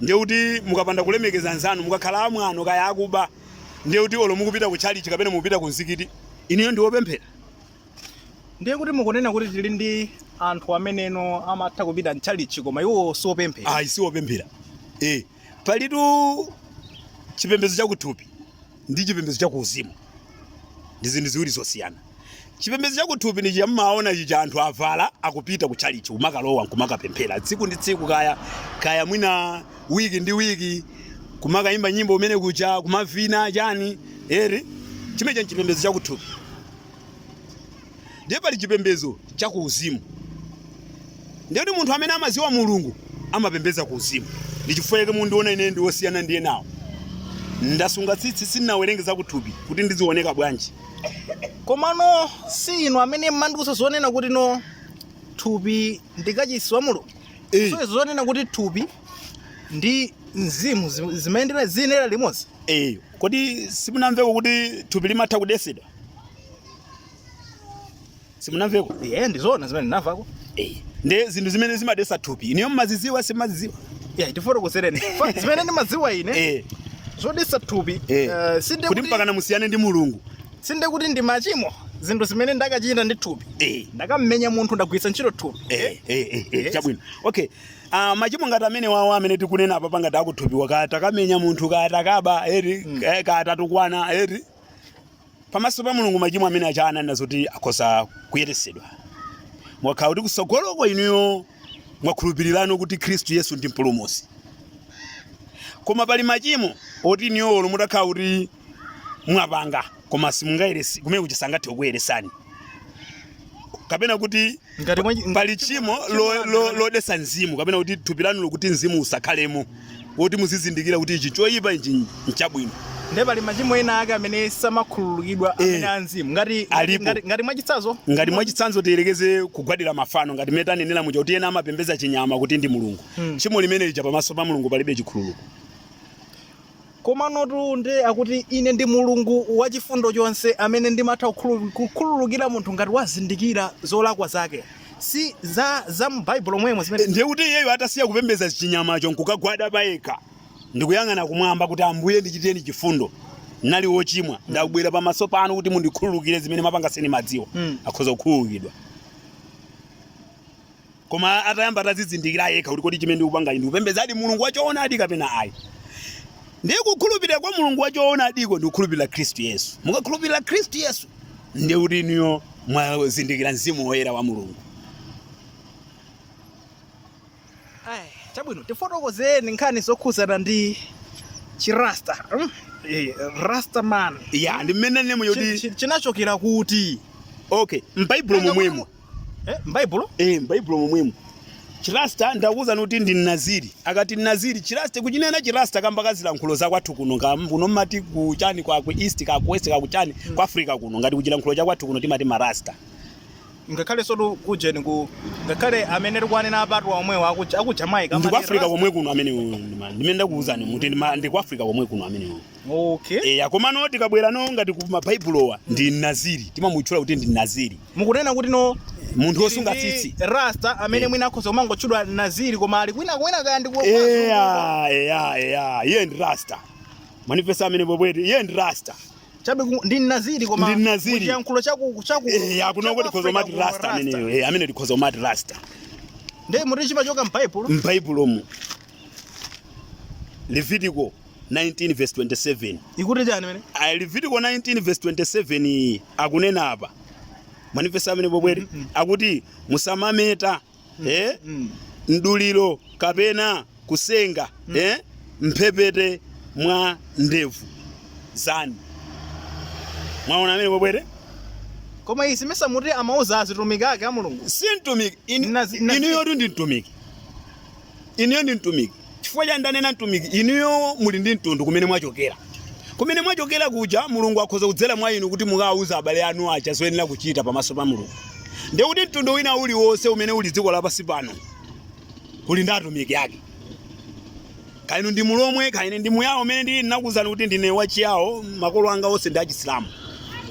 ndiye kuti mukapanda kulemekeza nzanu mukakhala amwano kaya akuba ndiye kuti olo mukupita ku chalichi kapena mukupita ku mzikiti inuyo ndi wopemphera ndiye kuti mukunena kuti tili ndi anthu ameneno amatha kupita mchalichi koma iwo siopemphera ayi si wopemphera eh Palitu chipembedzo chakuthupi ndi chipembedzo chakuuzimu ndi zinthu ziwiri zosiyana. Chipembedzo chakuthupi ndi chamaona chija anthu avala akupita ku chalichi kumakalowa nkumakapemphera tsiku ndi tsiku, kaya kaya mwina wiki ndi wiki, kumakayimba nyimbo kumene kuja kumavina chani eri chimenecho nchipembedzo chakuthupi. ndiye pali chipembedzo cha kuuzimu ndiye kuti munthu amene amadziwa mulungu amapembedza kuuzimu ndi chifukwa chake mukundiona ine ndi wosiyana ndi enawo ndasunga tsitsi sindinawerenge zakuthupi kuti ndizioneka bwanji komano si inu amene mmatiuza zonena kuti no thupi ndi kachisi wa mulungu Eh. so zonena kuti thupi ndi mzimu zi- zimayendera ziyendera limodzi Eh, kodi simunamveko kuti thupi limatha kudesedwa simunamveko eh ndizona zimene ndinamvako eh nde zinthu zimene zimadesa thupi inuyo mmaziziwa simaziziwa yeah tifotokozereni Fa- zimene ndimadziwa ine eh zodesa thupi eh eh, sinde kuti kuti- mpakana musiyane ndi mulungu sinde kuti ndi machimo zinthu zimene ndakachita ndi thupi eh ndakamenya munthu ndagwiritsa ntchito thupi eh eh eh, eh Yes. chabwino okay Ah, machimo ngati amenewawo amene tikunena apa pangati akuthupiwa kaya takamenya munthu kaya takaba eri eh, kaya tatukwana eri pamaso pa mulungu machimo amene aja ananena zoti akhoza kuyeresedwa mukakhala kuti kusogoloko inuyo mwakhulupirirano kuti khristu yesu ndi mpulumusi koma pali machimo oti inuyo olo mutakhala kuti mwapanga koma simungayeresedwe kumene kuja sangathe kukuyeresani kapena kuti ngati mwa- ngati pali tchimo tchimo lo- lo- anthu- lodesa mzimu kapena kuti thupi lanu lokuti mzimu usakhalemo kuti muzizindikira kuti ichi choyipa ichi nchabwino ndiye pali machimo ena ake amene samakhululukidwa Eh. amene a mzimu ngati Alipo. ngati- ngati mwachitsazo ngati mwachitsanzo tiyerekeze kugwadira mafano ngati mmene tanenera muja kuti ena amapembedza chinyama kuti ndi mulungu Mm. tchimo limene lija pamaso pa mulungu palibe chikhululuko Komanotu ndi akuti, Ine ndi Mulungu wachifundo chonse amene ndimatha kukhulu- kukhululukira munthu ngati wazindikira zolakwa zake. Si za, za mu Baibulo momwemo zimene ndiye kuti iyeyo atasiya kupembedza chinyamacho nkukagwada payekha ndikuyang'ana kumwamba kuti ambuye ndichiteni chifundo ndinali wochimwa ndabwera pamaso panu kuti mundikhululukire zimene ndimapanga sindimadziwa Mm. akhoza kukhululukidwa koma atayamba atadzizindikira yekha kuti kodi chimene ndikupanga ndikupembedzadi mulungu wachoonadi kapena ayi ndiye kukhulupirira kwa mulungu wachoonadiko ndi kukhulupirira khristu yesu mukakhulupirira khristu yesu ndiye kuti inuyo mwazindikira mzimu woyera wa mulungu Ai, chabwino tifotokozeni nkhani zokhudzana ndi chirasta mm? eh, rasta man ya ndi mmene nemu Chi- yoti chi- chinachokera kuti okay m'baibulo momwemo Eh, m'Baibulo? Eh, m'Baibulo momwemo. Chirasta ndakuwuzani kuti ndi Mnaziri. Akati Mnaziri chirasta kuchinena chirasta kamba ka zilankhulo za kwathu kuno ka kuno mmati kuchani kwa ku east ka ku west ka kuchani kwa Africa kuno ngati kuchilankhulo cha kwathu kuno timati marasta. ngakhale sotu kujeni ku ngakhale amene tikuwanena apatu omwewo aku aku Jamaica Ndi ku amati Africa Rasta. komwe kuno amene uyu ndi ma- ndimene ndakuwuzani muti ndi ma- ndi ku Africa komwe kuno amene uyu. Okay. eya komano tikabwera no ngati ku mabaibulowa ndi naziri timamutchula kuti ndi naziri Mukunena kuti no munthu wosunga ndi tsitsi Rasta amene Eh. mwina akhoza kumangotchedwa Naziri koma ali kwina kwina kaya ndi kwa- eya eya eya iye ndi rasta man Nditha amene bwebwete iye ndi rasta Chabe ku- ndi Naziri koma Ndi Naziri. muchiyankhulo chaku chaku. eya kuno chaku kuti tikhoza Africa kumati kuno rasta ameneyo eya amene tikhoza kumati rasta Ndiye muti chimachoka m'Baibulo. m'baibulomo levitiko 19 verse 27 ikuti chani mene Ayi, levitiko 19 verse 27 iyi akunena apa manifesto amene bobwere akuti musamameta eh, mduliro kapena kusenga eh, mphepete mwa ndevu zanu mwaona amene bobwere koma izi mesa muti amauza azitumiki ake a mulungu si mtumiki In- Nazi- nazi- inuyotu ndi mtumiki inuyo ndi mtumiki Chifukwa chani ndanena mtumiki? Inuyo muli ndi mtundu kumene mwachokera. Kumene mwachokera kuja Mulungu akhoza kudzera mwa inu kuti mukawauze abale anu aja zoyenera kuchita pamaso pa Mulungu. Ndiye kuti mtundu wina uliwonse umene uli dziko lapansi pano uli ndi atumiki ake. Kaya inu ndi Mulomwe, kaya ine ndi Muyawo umene ndili ndinakuwuzani kuti ndine wa Chiyawo, makolo anga onse ndi a Chisilamu.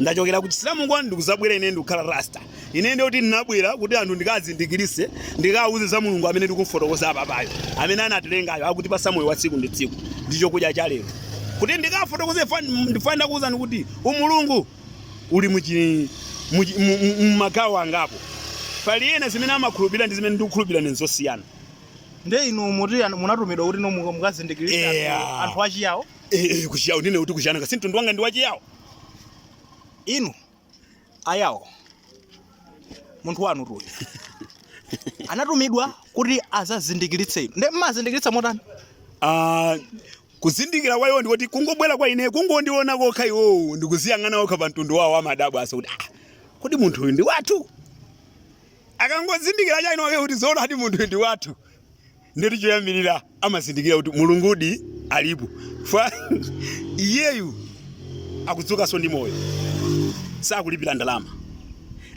Ndachokera ku Chisilamuko ndikudzabwera ine ndikukhala Rasta. Ine ndiye kuti ndinabwera kuti anthu ndikazindikirise, ndikawuze za Mulungu amene ndikumfotokoza apa payo. Amene anatilengayo akutipasa moyo wa tsiku ndi tsiku. Ndi chokudya cha lero. Kuti ndikafotokoze ndifanira kuwuzani kuti umulungu uli mu chi mu magawo angapo. Pali ena zimene amakhulupirira ndi zimene ndikukhulupirira ine n'zosiyana. Ndiye inu muti munatumidwa kuti no mukazindikirise anthu achiyawo? Eh, eh, kuchiyawo sinde kuti kuchiyana. Si mtundu wanga ndi wachiyawo. Inu ayawo munthu wanu tuyu anatumidwa kuti azazindikiritse inu nde mmazindikiritsa motani Ah, kuzindikira kwa iwo ndikuti kungobwera kwa ine kungondiona kokha iwowo ndikuziyang'ana okha pa mtundu wawo amadabwa asa kuti ah, kuti munthu uyu ndi wathu akangozindikira chaina wake kuti zoona kuti munthu uyu ndi wathu Ndiye choyambirira amazindikira kuti Mulungudi alipo. Fwa iyeyu akudzukanso ndi moyo. Sakulipira ndalama.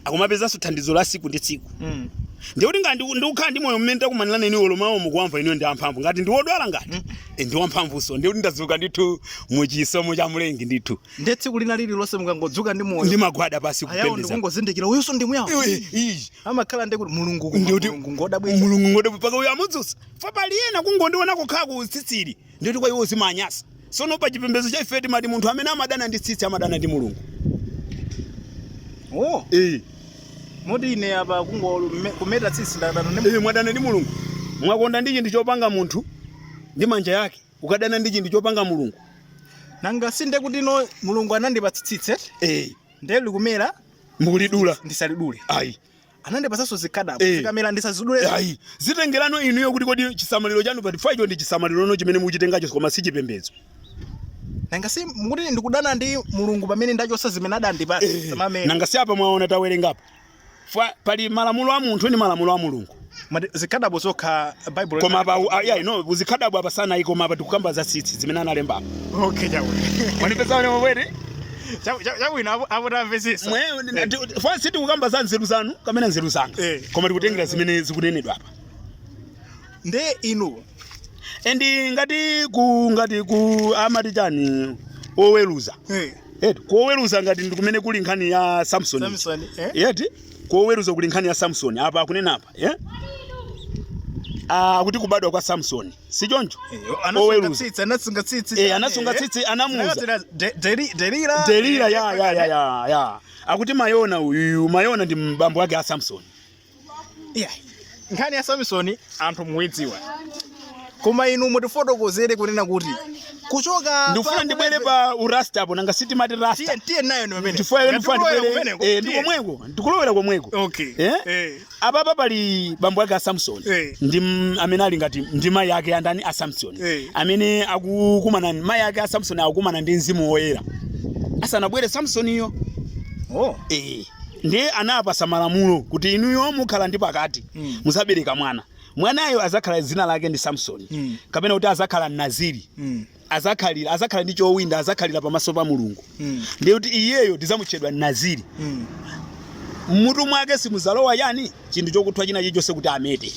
Akumapezanso thandizo la siku ndi tsiku. Mm. Ndiye kuti ngati ndikukhala ndi moyo mmene takumanirana inu olo mawu mukuwamva inu ndi amphamvu ngati ndi wodwala ngati mm. e, ndi wamphamvunso ndiye kuti ndadzuka ndithu mu chisomo cha Mlengi ndithu. Ndiye tsiku lina lililonse mukangodzuka ndi moyo. Ndimagwada pasi kupembedza. Ayawo ndikungozindikira uyuso ndi muyawo. Iyi amakhala ndi kuti mulungu koma Ndikuti- mulungu ngodabwitsa mulungu ngode paka uyo amudzutsa fa pali ena kungondiona kukhala ndi tsitsili ndikuti kwa iwo zimanyasa sono pa chipembedzo cha ife timati munthu amene amadana ndi tsitsi amadana ndi mulungu oh eh moti ine apa kungo me- kumeta tsitsi ndadana ndi Iye mwadana ndi mulungu mwakonda ndi chinthu chopanga munthu ndi manja yake ukadana ndi chinthu chopanga mulungu nanga sinde kuti no mulungu anandipatsa tsitsi eti eh nde likumera mukulidula ndisalidule ayi anandipatsanso zikhadabo Eh. zikamera ndisazidule ayi zitengerano inuyo kuti kodi chisamaliro chanu pa chifukwacho ndi chisamalirono chimene mukuchitengacho koma si chipembedzo nanga si mukuti ndikudana ndi mulungu pamene ndachosa zimene adandipatsa samamera nanga si apa mwaona tawerenga apa Fwa- pali malamulo a munthu ndi malamulo a mulungu Mati zikhadabo zokha Bible. koma apa u- ah, yeah, no zikhadabo apa sanayi koma apa tikukamba za tsitsi zimene analemba apa okay chawe. manipeza wene wabwere Chawe chawe ina apo tamvesesa. mwe ndi- fwa si tikukamba za nzeru zanu kamene nzeru zanga Eh. koma tikutengera zimene zikunenedwa apa Nde inu ndi ngati ku ngati ku amati chani oweruza eh eti kuoweruza ngati ndikumene kuli nkhani ya samson Samson eh yeti koweruza kuli nkhani ya samsoni apa akunena apa eh? akuti kubadwa kwa samsoni si choncho Oweruza. anasunga tsitsi Eh, anasunga tsitsi anamuuza delila delila ya, ya, ya, ya, ya. akuti Manowa uyuyu Manowa ndi bambo wake a samsoni nkhani ya samsoni anthu muidziwa koma inu mutifotokozere kunena kuti kuchoka ndikufuna pa- ndibwere pa urasta apo nanga sitimati rasta tiye tiye nayo ni pamene chifukwa Ngati ndikufuna kulowera ndibwere kumeneko, eh, ndi tiye. komweko ndikulowera komweko okay Eh? eh apapa pali bambo ake a samsoni Eh. ndi m- amene ali ngati ndi mayi ake andani a samsoni Eh. amene akukumana mayi ake a samsoni akukumana ndi mzimu woyera asanabwere samsoniyo oh eh ndiye anawapasa malamulo kuti inuyo mukhala ndi pakati Mm. muzabereka mwana mwanayo azakhala dzina lake ndi samsoni Mm. kapena kuti azakhala naziri Mm. azakhalira azakhala ndi chowinda azakhalira pamaso pa mulungu Mm. ndiye kuti iyeyo azatchedwa naziri Mm. mmutu mwake simuzalowa chani chinthu chokuthwa china chilichonse kuti amete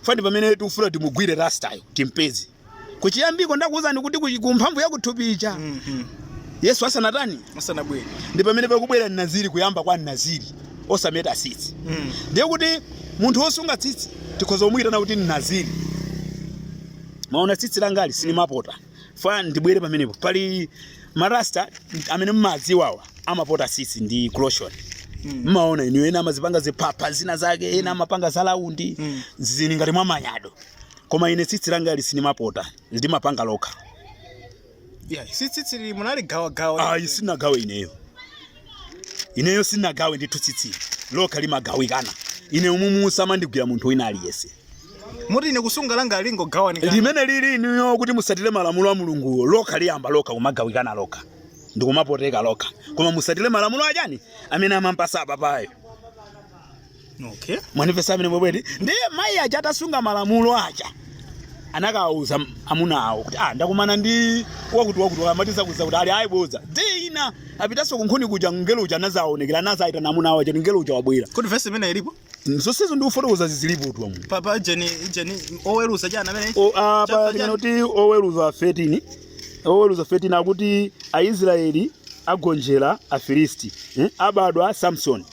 fo ndi pamene tikufuna timugwire rastayo timpeze kuchiyambiko ndakuwuzani kuti ku, ku mphamvu ya kuthupi ija mm -hmm. yesu asanatani asanabwere ndi pamene pakubwera mnaziri kuyamba kwa mnaziri osameta tsitsi mm. ndiye kuti munthu wosunga tsitsi tikhoza kumuyitana kuti mnaziri maona tsitsi langali sindimapota fo ndibwere pamenepo pali marasta amene mmadziwawa amapota tsitsi ndi clotion mmaona mm. inu ena amazipanga zipapa zina zake ena amapanga za laundi mm. zili ngati mwa manyado koma ine tsitsi langali sinimapota limapanga lokha Yeah, si tsitsi lili munaligawagawa ayi sinagawe ineyo ineyo sinagawe ndithu tsitsi lokha limagawikana ine umumu samandigwira munthu wina aliyense muti ine kusunga langa lingogawanikana limene lili inuyo kuti musatire malamulo a mulunguwo lokha liyamba lokha kumagawikana lokha ndikumapoteka lokha koma musatire malamulo achani amene anampasa apapayo okay mwanipeza amene mwebweti ndiye mayi aja atasunga malamulo aja anakawuza amuna awo kuti ah ndakumana ndi wakuti wakuti amati zakuti zakuti ali ayi bodza tsiku lina apitanso kunkhuni kuja ngelo uja anazaonekera anazayitana amuna awo aja kuti ngelo uja wabwera kuti vesi imene ilipo zonsezo ndikufotokoza zilipotu umu apapa jeni jeni oweruza chani amene O- apa Chapter chimene kuti oweruza 13 oweruza 13 akuti aisraeli agonjera afilisti eh? abadwa samson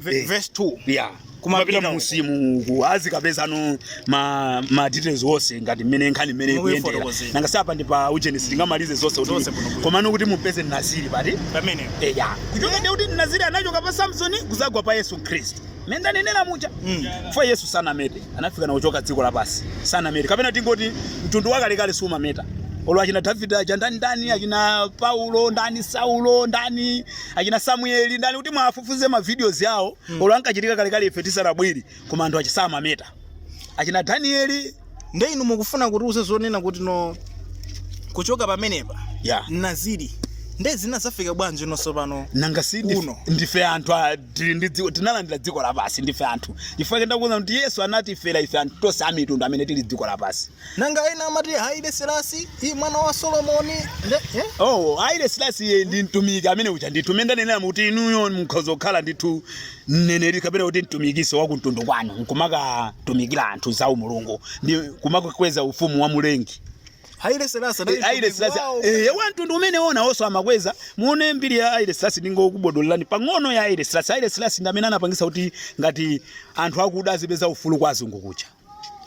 Ve- Eh. verse 2 ya Kumapita kumapita uko. munsimu azikapeza no ma ma details onse ngati mmene nkhani mmene Momwe ikuyendera ifotokozera. nanga si apa ndi pa ujenesi tingamalize zonse Zonse kuti kuno kuno. komano kuti mupeze naziri ndi pati pamene eya kuchoka ndi kuti naziri anachoka pa samsoni kuzagwa pa yesu khristu mmene ndanenera muja Mm. fo yesu sanamete anafika na kuchoka dziko lapansi sanamete kapena tingoti mtundu wakalekale sumameta olo achina davide aja ndani ndani achina paulo ndani saulo ndani achina samueli ndani kuti muwafufuze ma videos yawo mm. olo ankachitika kalekale ife tisanabwere koma anthu achi samameta achina danieli nde inu mukufuna kutiuza zonena kuti ino kuchoka pamenepa ya naziri nde zinazafika bwanji nonso pano nanga si ndi- Uno. ndife anthu a- tili ndi dziko tinalandira dziko lapansi ndife anthu chifukwa chake ndakuuza kuti yesu anatifera ife anthu tonse amitundu amene tili dziko lapansi nanga ena amati haile selasi i mwana wa solomoni nde eh? oh haile selasi iye ndi mtumiki mmene uja ndithu mene ndanenera kuti inuyo mukhoza kukhala ndithu mneneri kapena kuti mtumikiso wa kumtundu kwanu nkumakatumikira anthu za umulungu ndi kumakakweza ufumu wa mulengi haile selasi anali haile mtumiki selasi wawo. eh wa mtundu umenewo nawonso amakweza muone mbiri ya haile selasi ndingokubodolani pang'ono ya haile selasi haile selasi ndi amene anapangisa kuti ngati anthu akuda azipeza ufulu kwa azungu kuja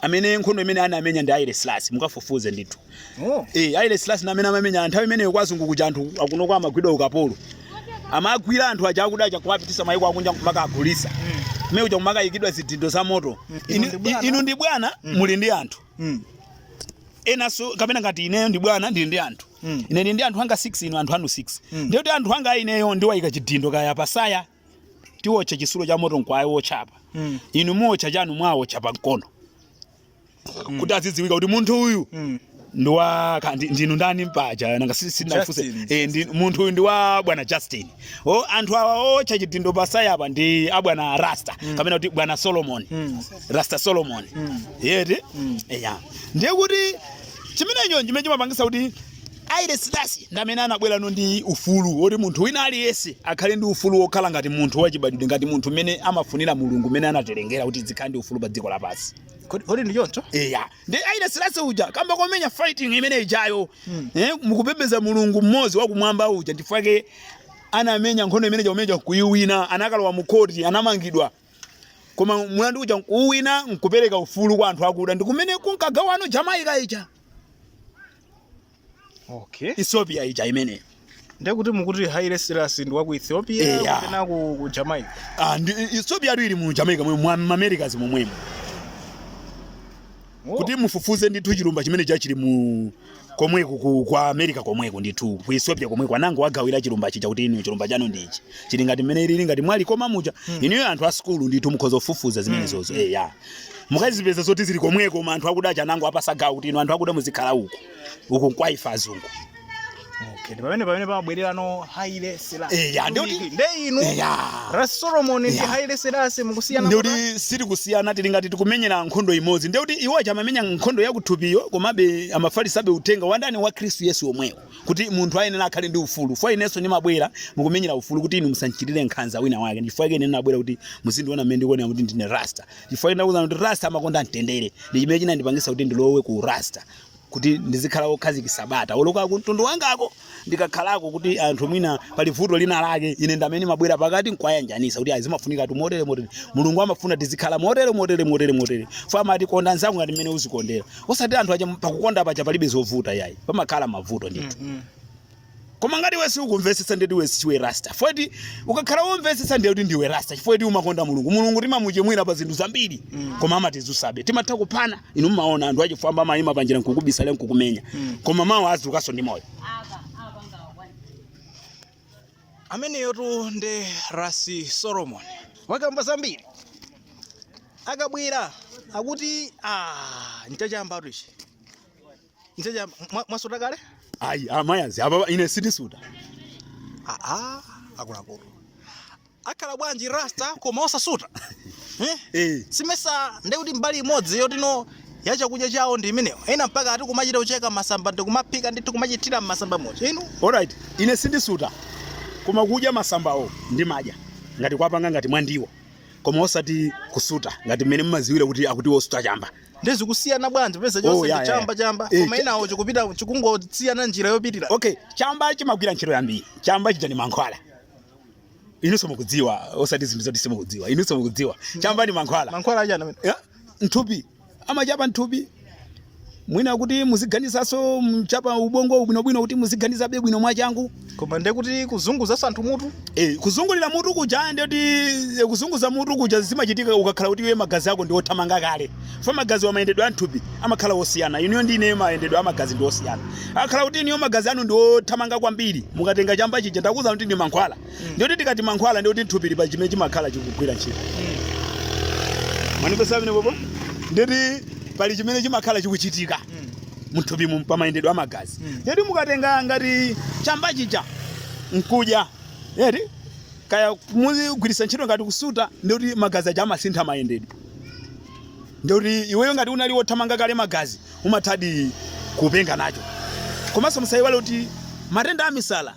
amene nkhondo imene anamenya ndi Haile Selassie mukafufuze ndithu Oh. eh Haile Selassie amene amamenya nthawi imeneyo kwa azungu kuja anthu akuno kuja amagwidwa ukapolo amagwira anthu aja akuda aja kuwapitisa maiko akunja kumakawagulisa mmene kuja kumakaikidwa zidindo za moto Inu ndi bwana. inu ndi bwana muli ndi anthu Mm. enanso kapena ngati ineyo ndi bwana ndili ndi anthu Mm. ine ndili ndi anthu anga 6 inu anthu anu 6 Mm. ndiye kuti anthu anga a ineyo ndiwayika chidindo kaya patsaya tiwotcha chisulo cha moto nkuwaotcha apa Mm. inu muwotcha chanu muwawotcha pa mkono kuti azidziwika kuti munthu uyu Mm. ndi wa ka- ndi- ndinu ndani mpaja nanga si- sindinafunse Justin. Eh, ndi- munthu uyu ndi wa bwana justin o anthu awa owotcha chidindo patsaya apa ndi abwana rasta kapena kuti bwana solomon Mm. rasta solomon Mm. eti Mm. eya ndiye kuti chimenecho chimene chimapangisa kuti Haile Selassie ndi amene anabwerano ndi ufulu woti munthu wina aliyense akhale ndi ufulu wokhala ngati munthu wachibadwidwe, ngati munthu mmene amafunira Mulungu, mmene anatilengera kuti tikhale ndi ufulu pa dziko lapansi. Kodi kodi ndi choncho? Eya, ndi Haile Selassie uja kamba komenya fighting imene ijayo eh, mukupembedza Mulungu mmodzi wakumwamba uja chifukwa chake anamenya nkhondo imene chomenya nkuyiwina, anakalowa mu khoti, anamangidwa koma mulandu uja nkuwina nkupereka ufulu kwa anthu akuda ndi kumene kunkagawano Jamaica ija okay ethiopia ija imeneyo ndekuti mukuti haile selasi ndi wa ku ethiopia Eh, ya. kapena ku, ku jamaica Ah, ndi ethiopia adu ili mu jamaica momwe mwa mamerikas momwemo Oh, kuti mufufuze ndithu chilumba chimenecho chili mu komweko ku, kwa america komweko ndithu ku ethiopia komweko anangowagawira chilumba chija kuti inu chilumba chanu ndichi chili ngati mmene ili ngati mwa likoma muja inuyo anthu a sukulu ndithu mukhoza kufufuza zimenezozo eya mukazipeze zoti zili komweko koma anthu akuda aja anangowapasa gawo kuti inu anthu akuda muzikhala uku uku nkwa ife azungu Okay, ndi pamene pamene pamabwererano Haile Selassie. Eh, ya, ndi kuti- Nde inu Eya. Ras Solomon ndi Ya. Haile Selassie mukusiyana kuti? ndikuti siri kusiyana tili ngati tikumenyera nkhondo imodzi ndikuti iwo aja amamenya nkhondo yakuthupiyo komabe amafalisabe uthenga wa ndani wa khristu yesu omwewo kuti munthu ayenera akhale ndi ufulu fo inenso ndimabwera mukumenyera ufulu kuti inu musandichitire nkhanza wina wake chifukwa chake ine ndinabwera kuti muzindiona mmene ndikuonera kuti ndine rasta chifukwa ndinakuuzani kuti rasta amakonda mtendere ndi chimene chinandipangisa kuti ndilowe ku rasta kuti ndizikhala wokhazikitsa bata oloka ku mtundu wangako ndikakhalako kuti anthu mwina pali vuto lina lake ine ndamene ndimabwera pakati nkuwayanjanisa kuti zimafunikatu motere motere mulungu amafuna tizikhala motere motere motere motere fo amati konda nzako ngati mmene uzikondera osati anthu acha pakukonda paja palibe zovuta yayi pamakhala mavuto ndithu Mhm. koma ngati iwe siukumvetsetsa ndeti iwe siwe rasta foti ukakhala womvetsetsa ndiye kuti ndiwe rasta chifukwa ti umakonda mulungu mulungu timamuchimwira pa zinthu zambiri Mm. koma amatidzutsabe timatha kuphana inu mmaona anthu achifwamba amayima panjira nkukubisalira nkukumenya Mm. koma mawa uzukaso ndi moyo ameneyotu nde rasi solomon wakamba zambiri akabwera akuti ah, nchachamba tu ichi nchachamba Mwa- mwasuta kale ayi amayazi apa ine sitisuta aa akuluakulu akhala bwanji rasta koma osasuta eh? Eh. simesa ndi kuti mbali imodzi yotino ya chakudya chawo ndi imeneyo ena mpaka ati kumachita kucheka masamba ndi kumaphika ndithu kumachitira masamba moja inu Alright, ine sindisuta koma kudya masambawo ndimadya ngati kwapanga ngati mwa ndiwo koma osati kusuta ngati mmene mmaziwira kuti akuti wosuta chamba nde zikusiyana bwanji peza Oh, chonse yeah, ndi yeah. chamba chamba Eh, koma cha- inawo chikupita chikungosiyana njira yopitira okay chamba chimagwira ntchito yambiri chamba chija ndi mankhwala inunso mukudziwa osati zinthu zoti simukudziwa inunso mukudziwa chamba ni mankhwala mankhwala achani amene Ya, nthupi amachapa nthupi mwina kuti muziganizaso mchapa ubongo bwinobwino kuti muziganizabe bwino mwachangu koma ndiye kuti kuzunguza anthu mutu Eh, kuzungulira mutu kuja ndiyoti kuzunguza mutu kuja zimachitika ukakhala kuti iwe magazi ako ndi othamanga kale chifukwa magaziwa mayendedwe a m'thupi amakhala osiyana inuyo ndi ineyo mayendedwe a magazi ndi osiyana akhala kuti inuyo magazi anu ndi othamanga kwambiri mukatenga chamba chija ndakuza kuti ndi mankhwala ndikuti tikati mankhwala ndikuti nthupi ilipo chimene chimakhala chikugwira ntchito mwandimvetsa bwinobwino ndikuti pali chimene chimakhala chikuchitika mthupimu pamayendedwe a magazi Mm. yeti mukatenga ngati chamba chija nkudya yeti kaya muzigwiritsa ntchito ngati kusuta ndikuti magazi aja amasintha mayendedwe ndikuti iweyo ngati unali wothamanga kale magazi umathadi kupenga nacho komanso musayiwale kuti matenda a misala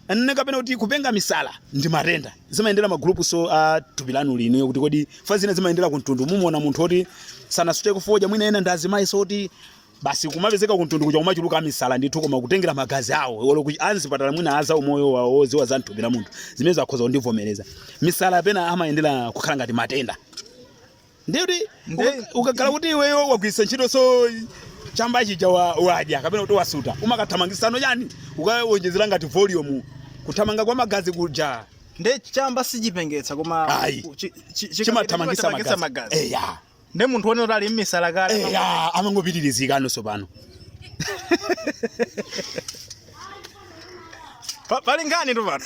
anene kapena kuti kupenga misala ndi matenda zimayendera magulupunso a thupi lanuli nkuti kodi fa zina zimayendera ku mtundu mumuona munthu woti sanasuteko fodya mwina ena ndi azimayi so kuti basi kumapezeka kuntundu kuja kumachuluka amisala ndithu koma kutengera magazi awo olo kuti anzipatala mwina aza umoyo wawo oziwa za mthupi la munthu zimenezo akhoza kundivomereza misala pena amayendera kukhala ngati matenda ndiye kuti Nde- ukakhala kuti iweyo wagwiritsa ntchito so chamba chija wa- wadya kapena kuti wasuta umakathamangisano chani ukawonjezera ngati volume kuthamanga kwa magazi kuja nde chamba sichipengetsa koma Ayi. chi- chi- chi- Chimathamangitsa chimathamangitsa magazi. magazi eya ndi munthu wonena kuti ali mmisala kale Eh, ah, amangopitirizika ano Tsopano Pa- pali nkhani tu pano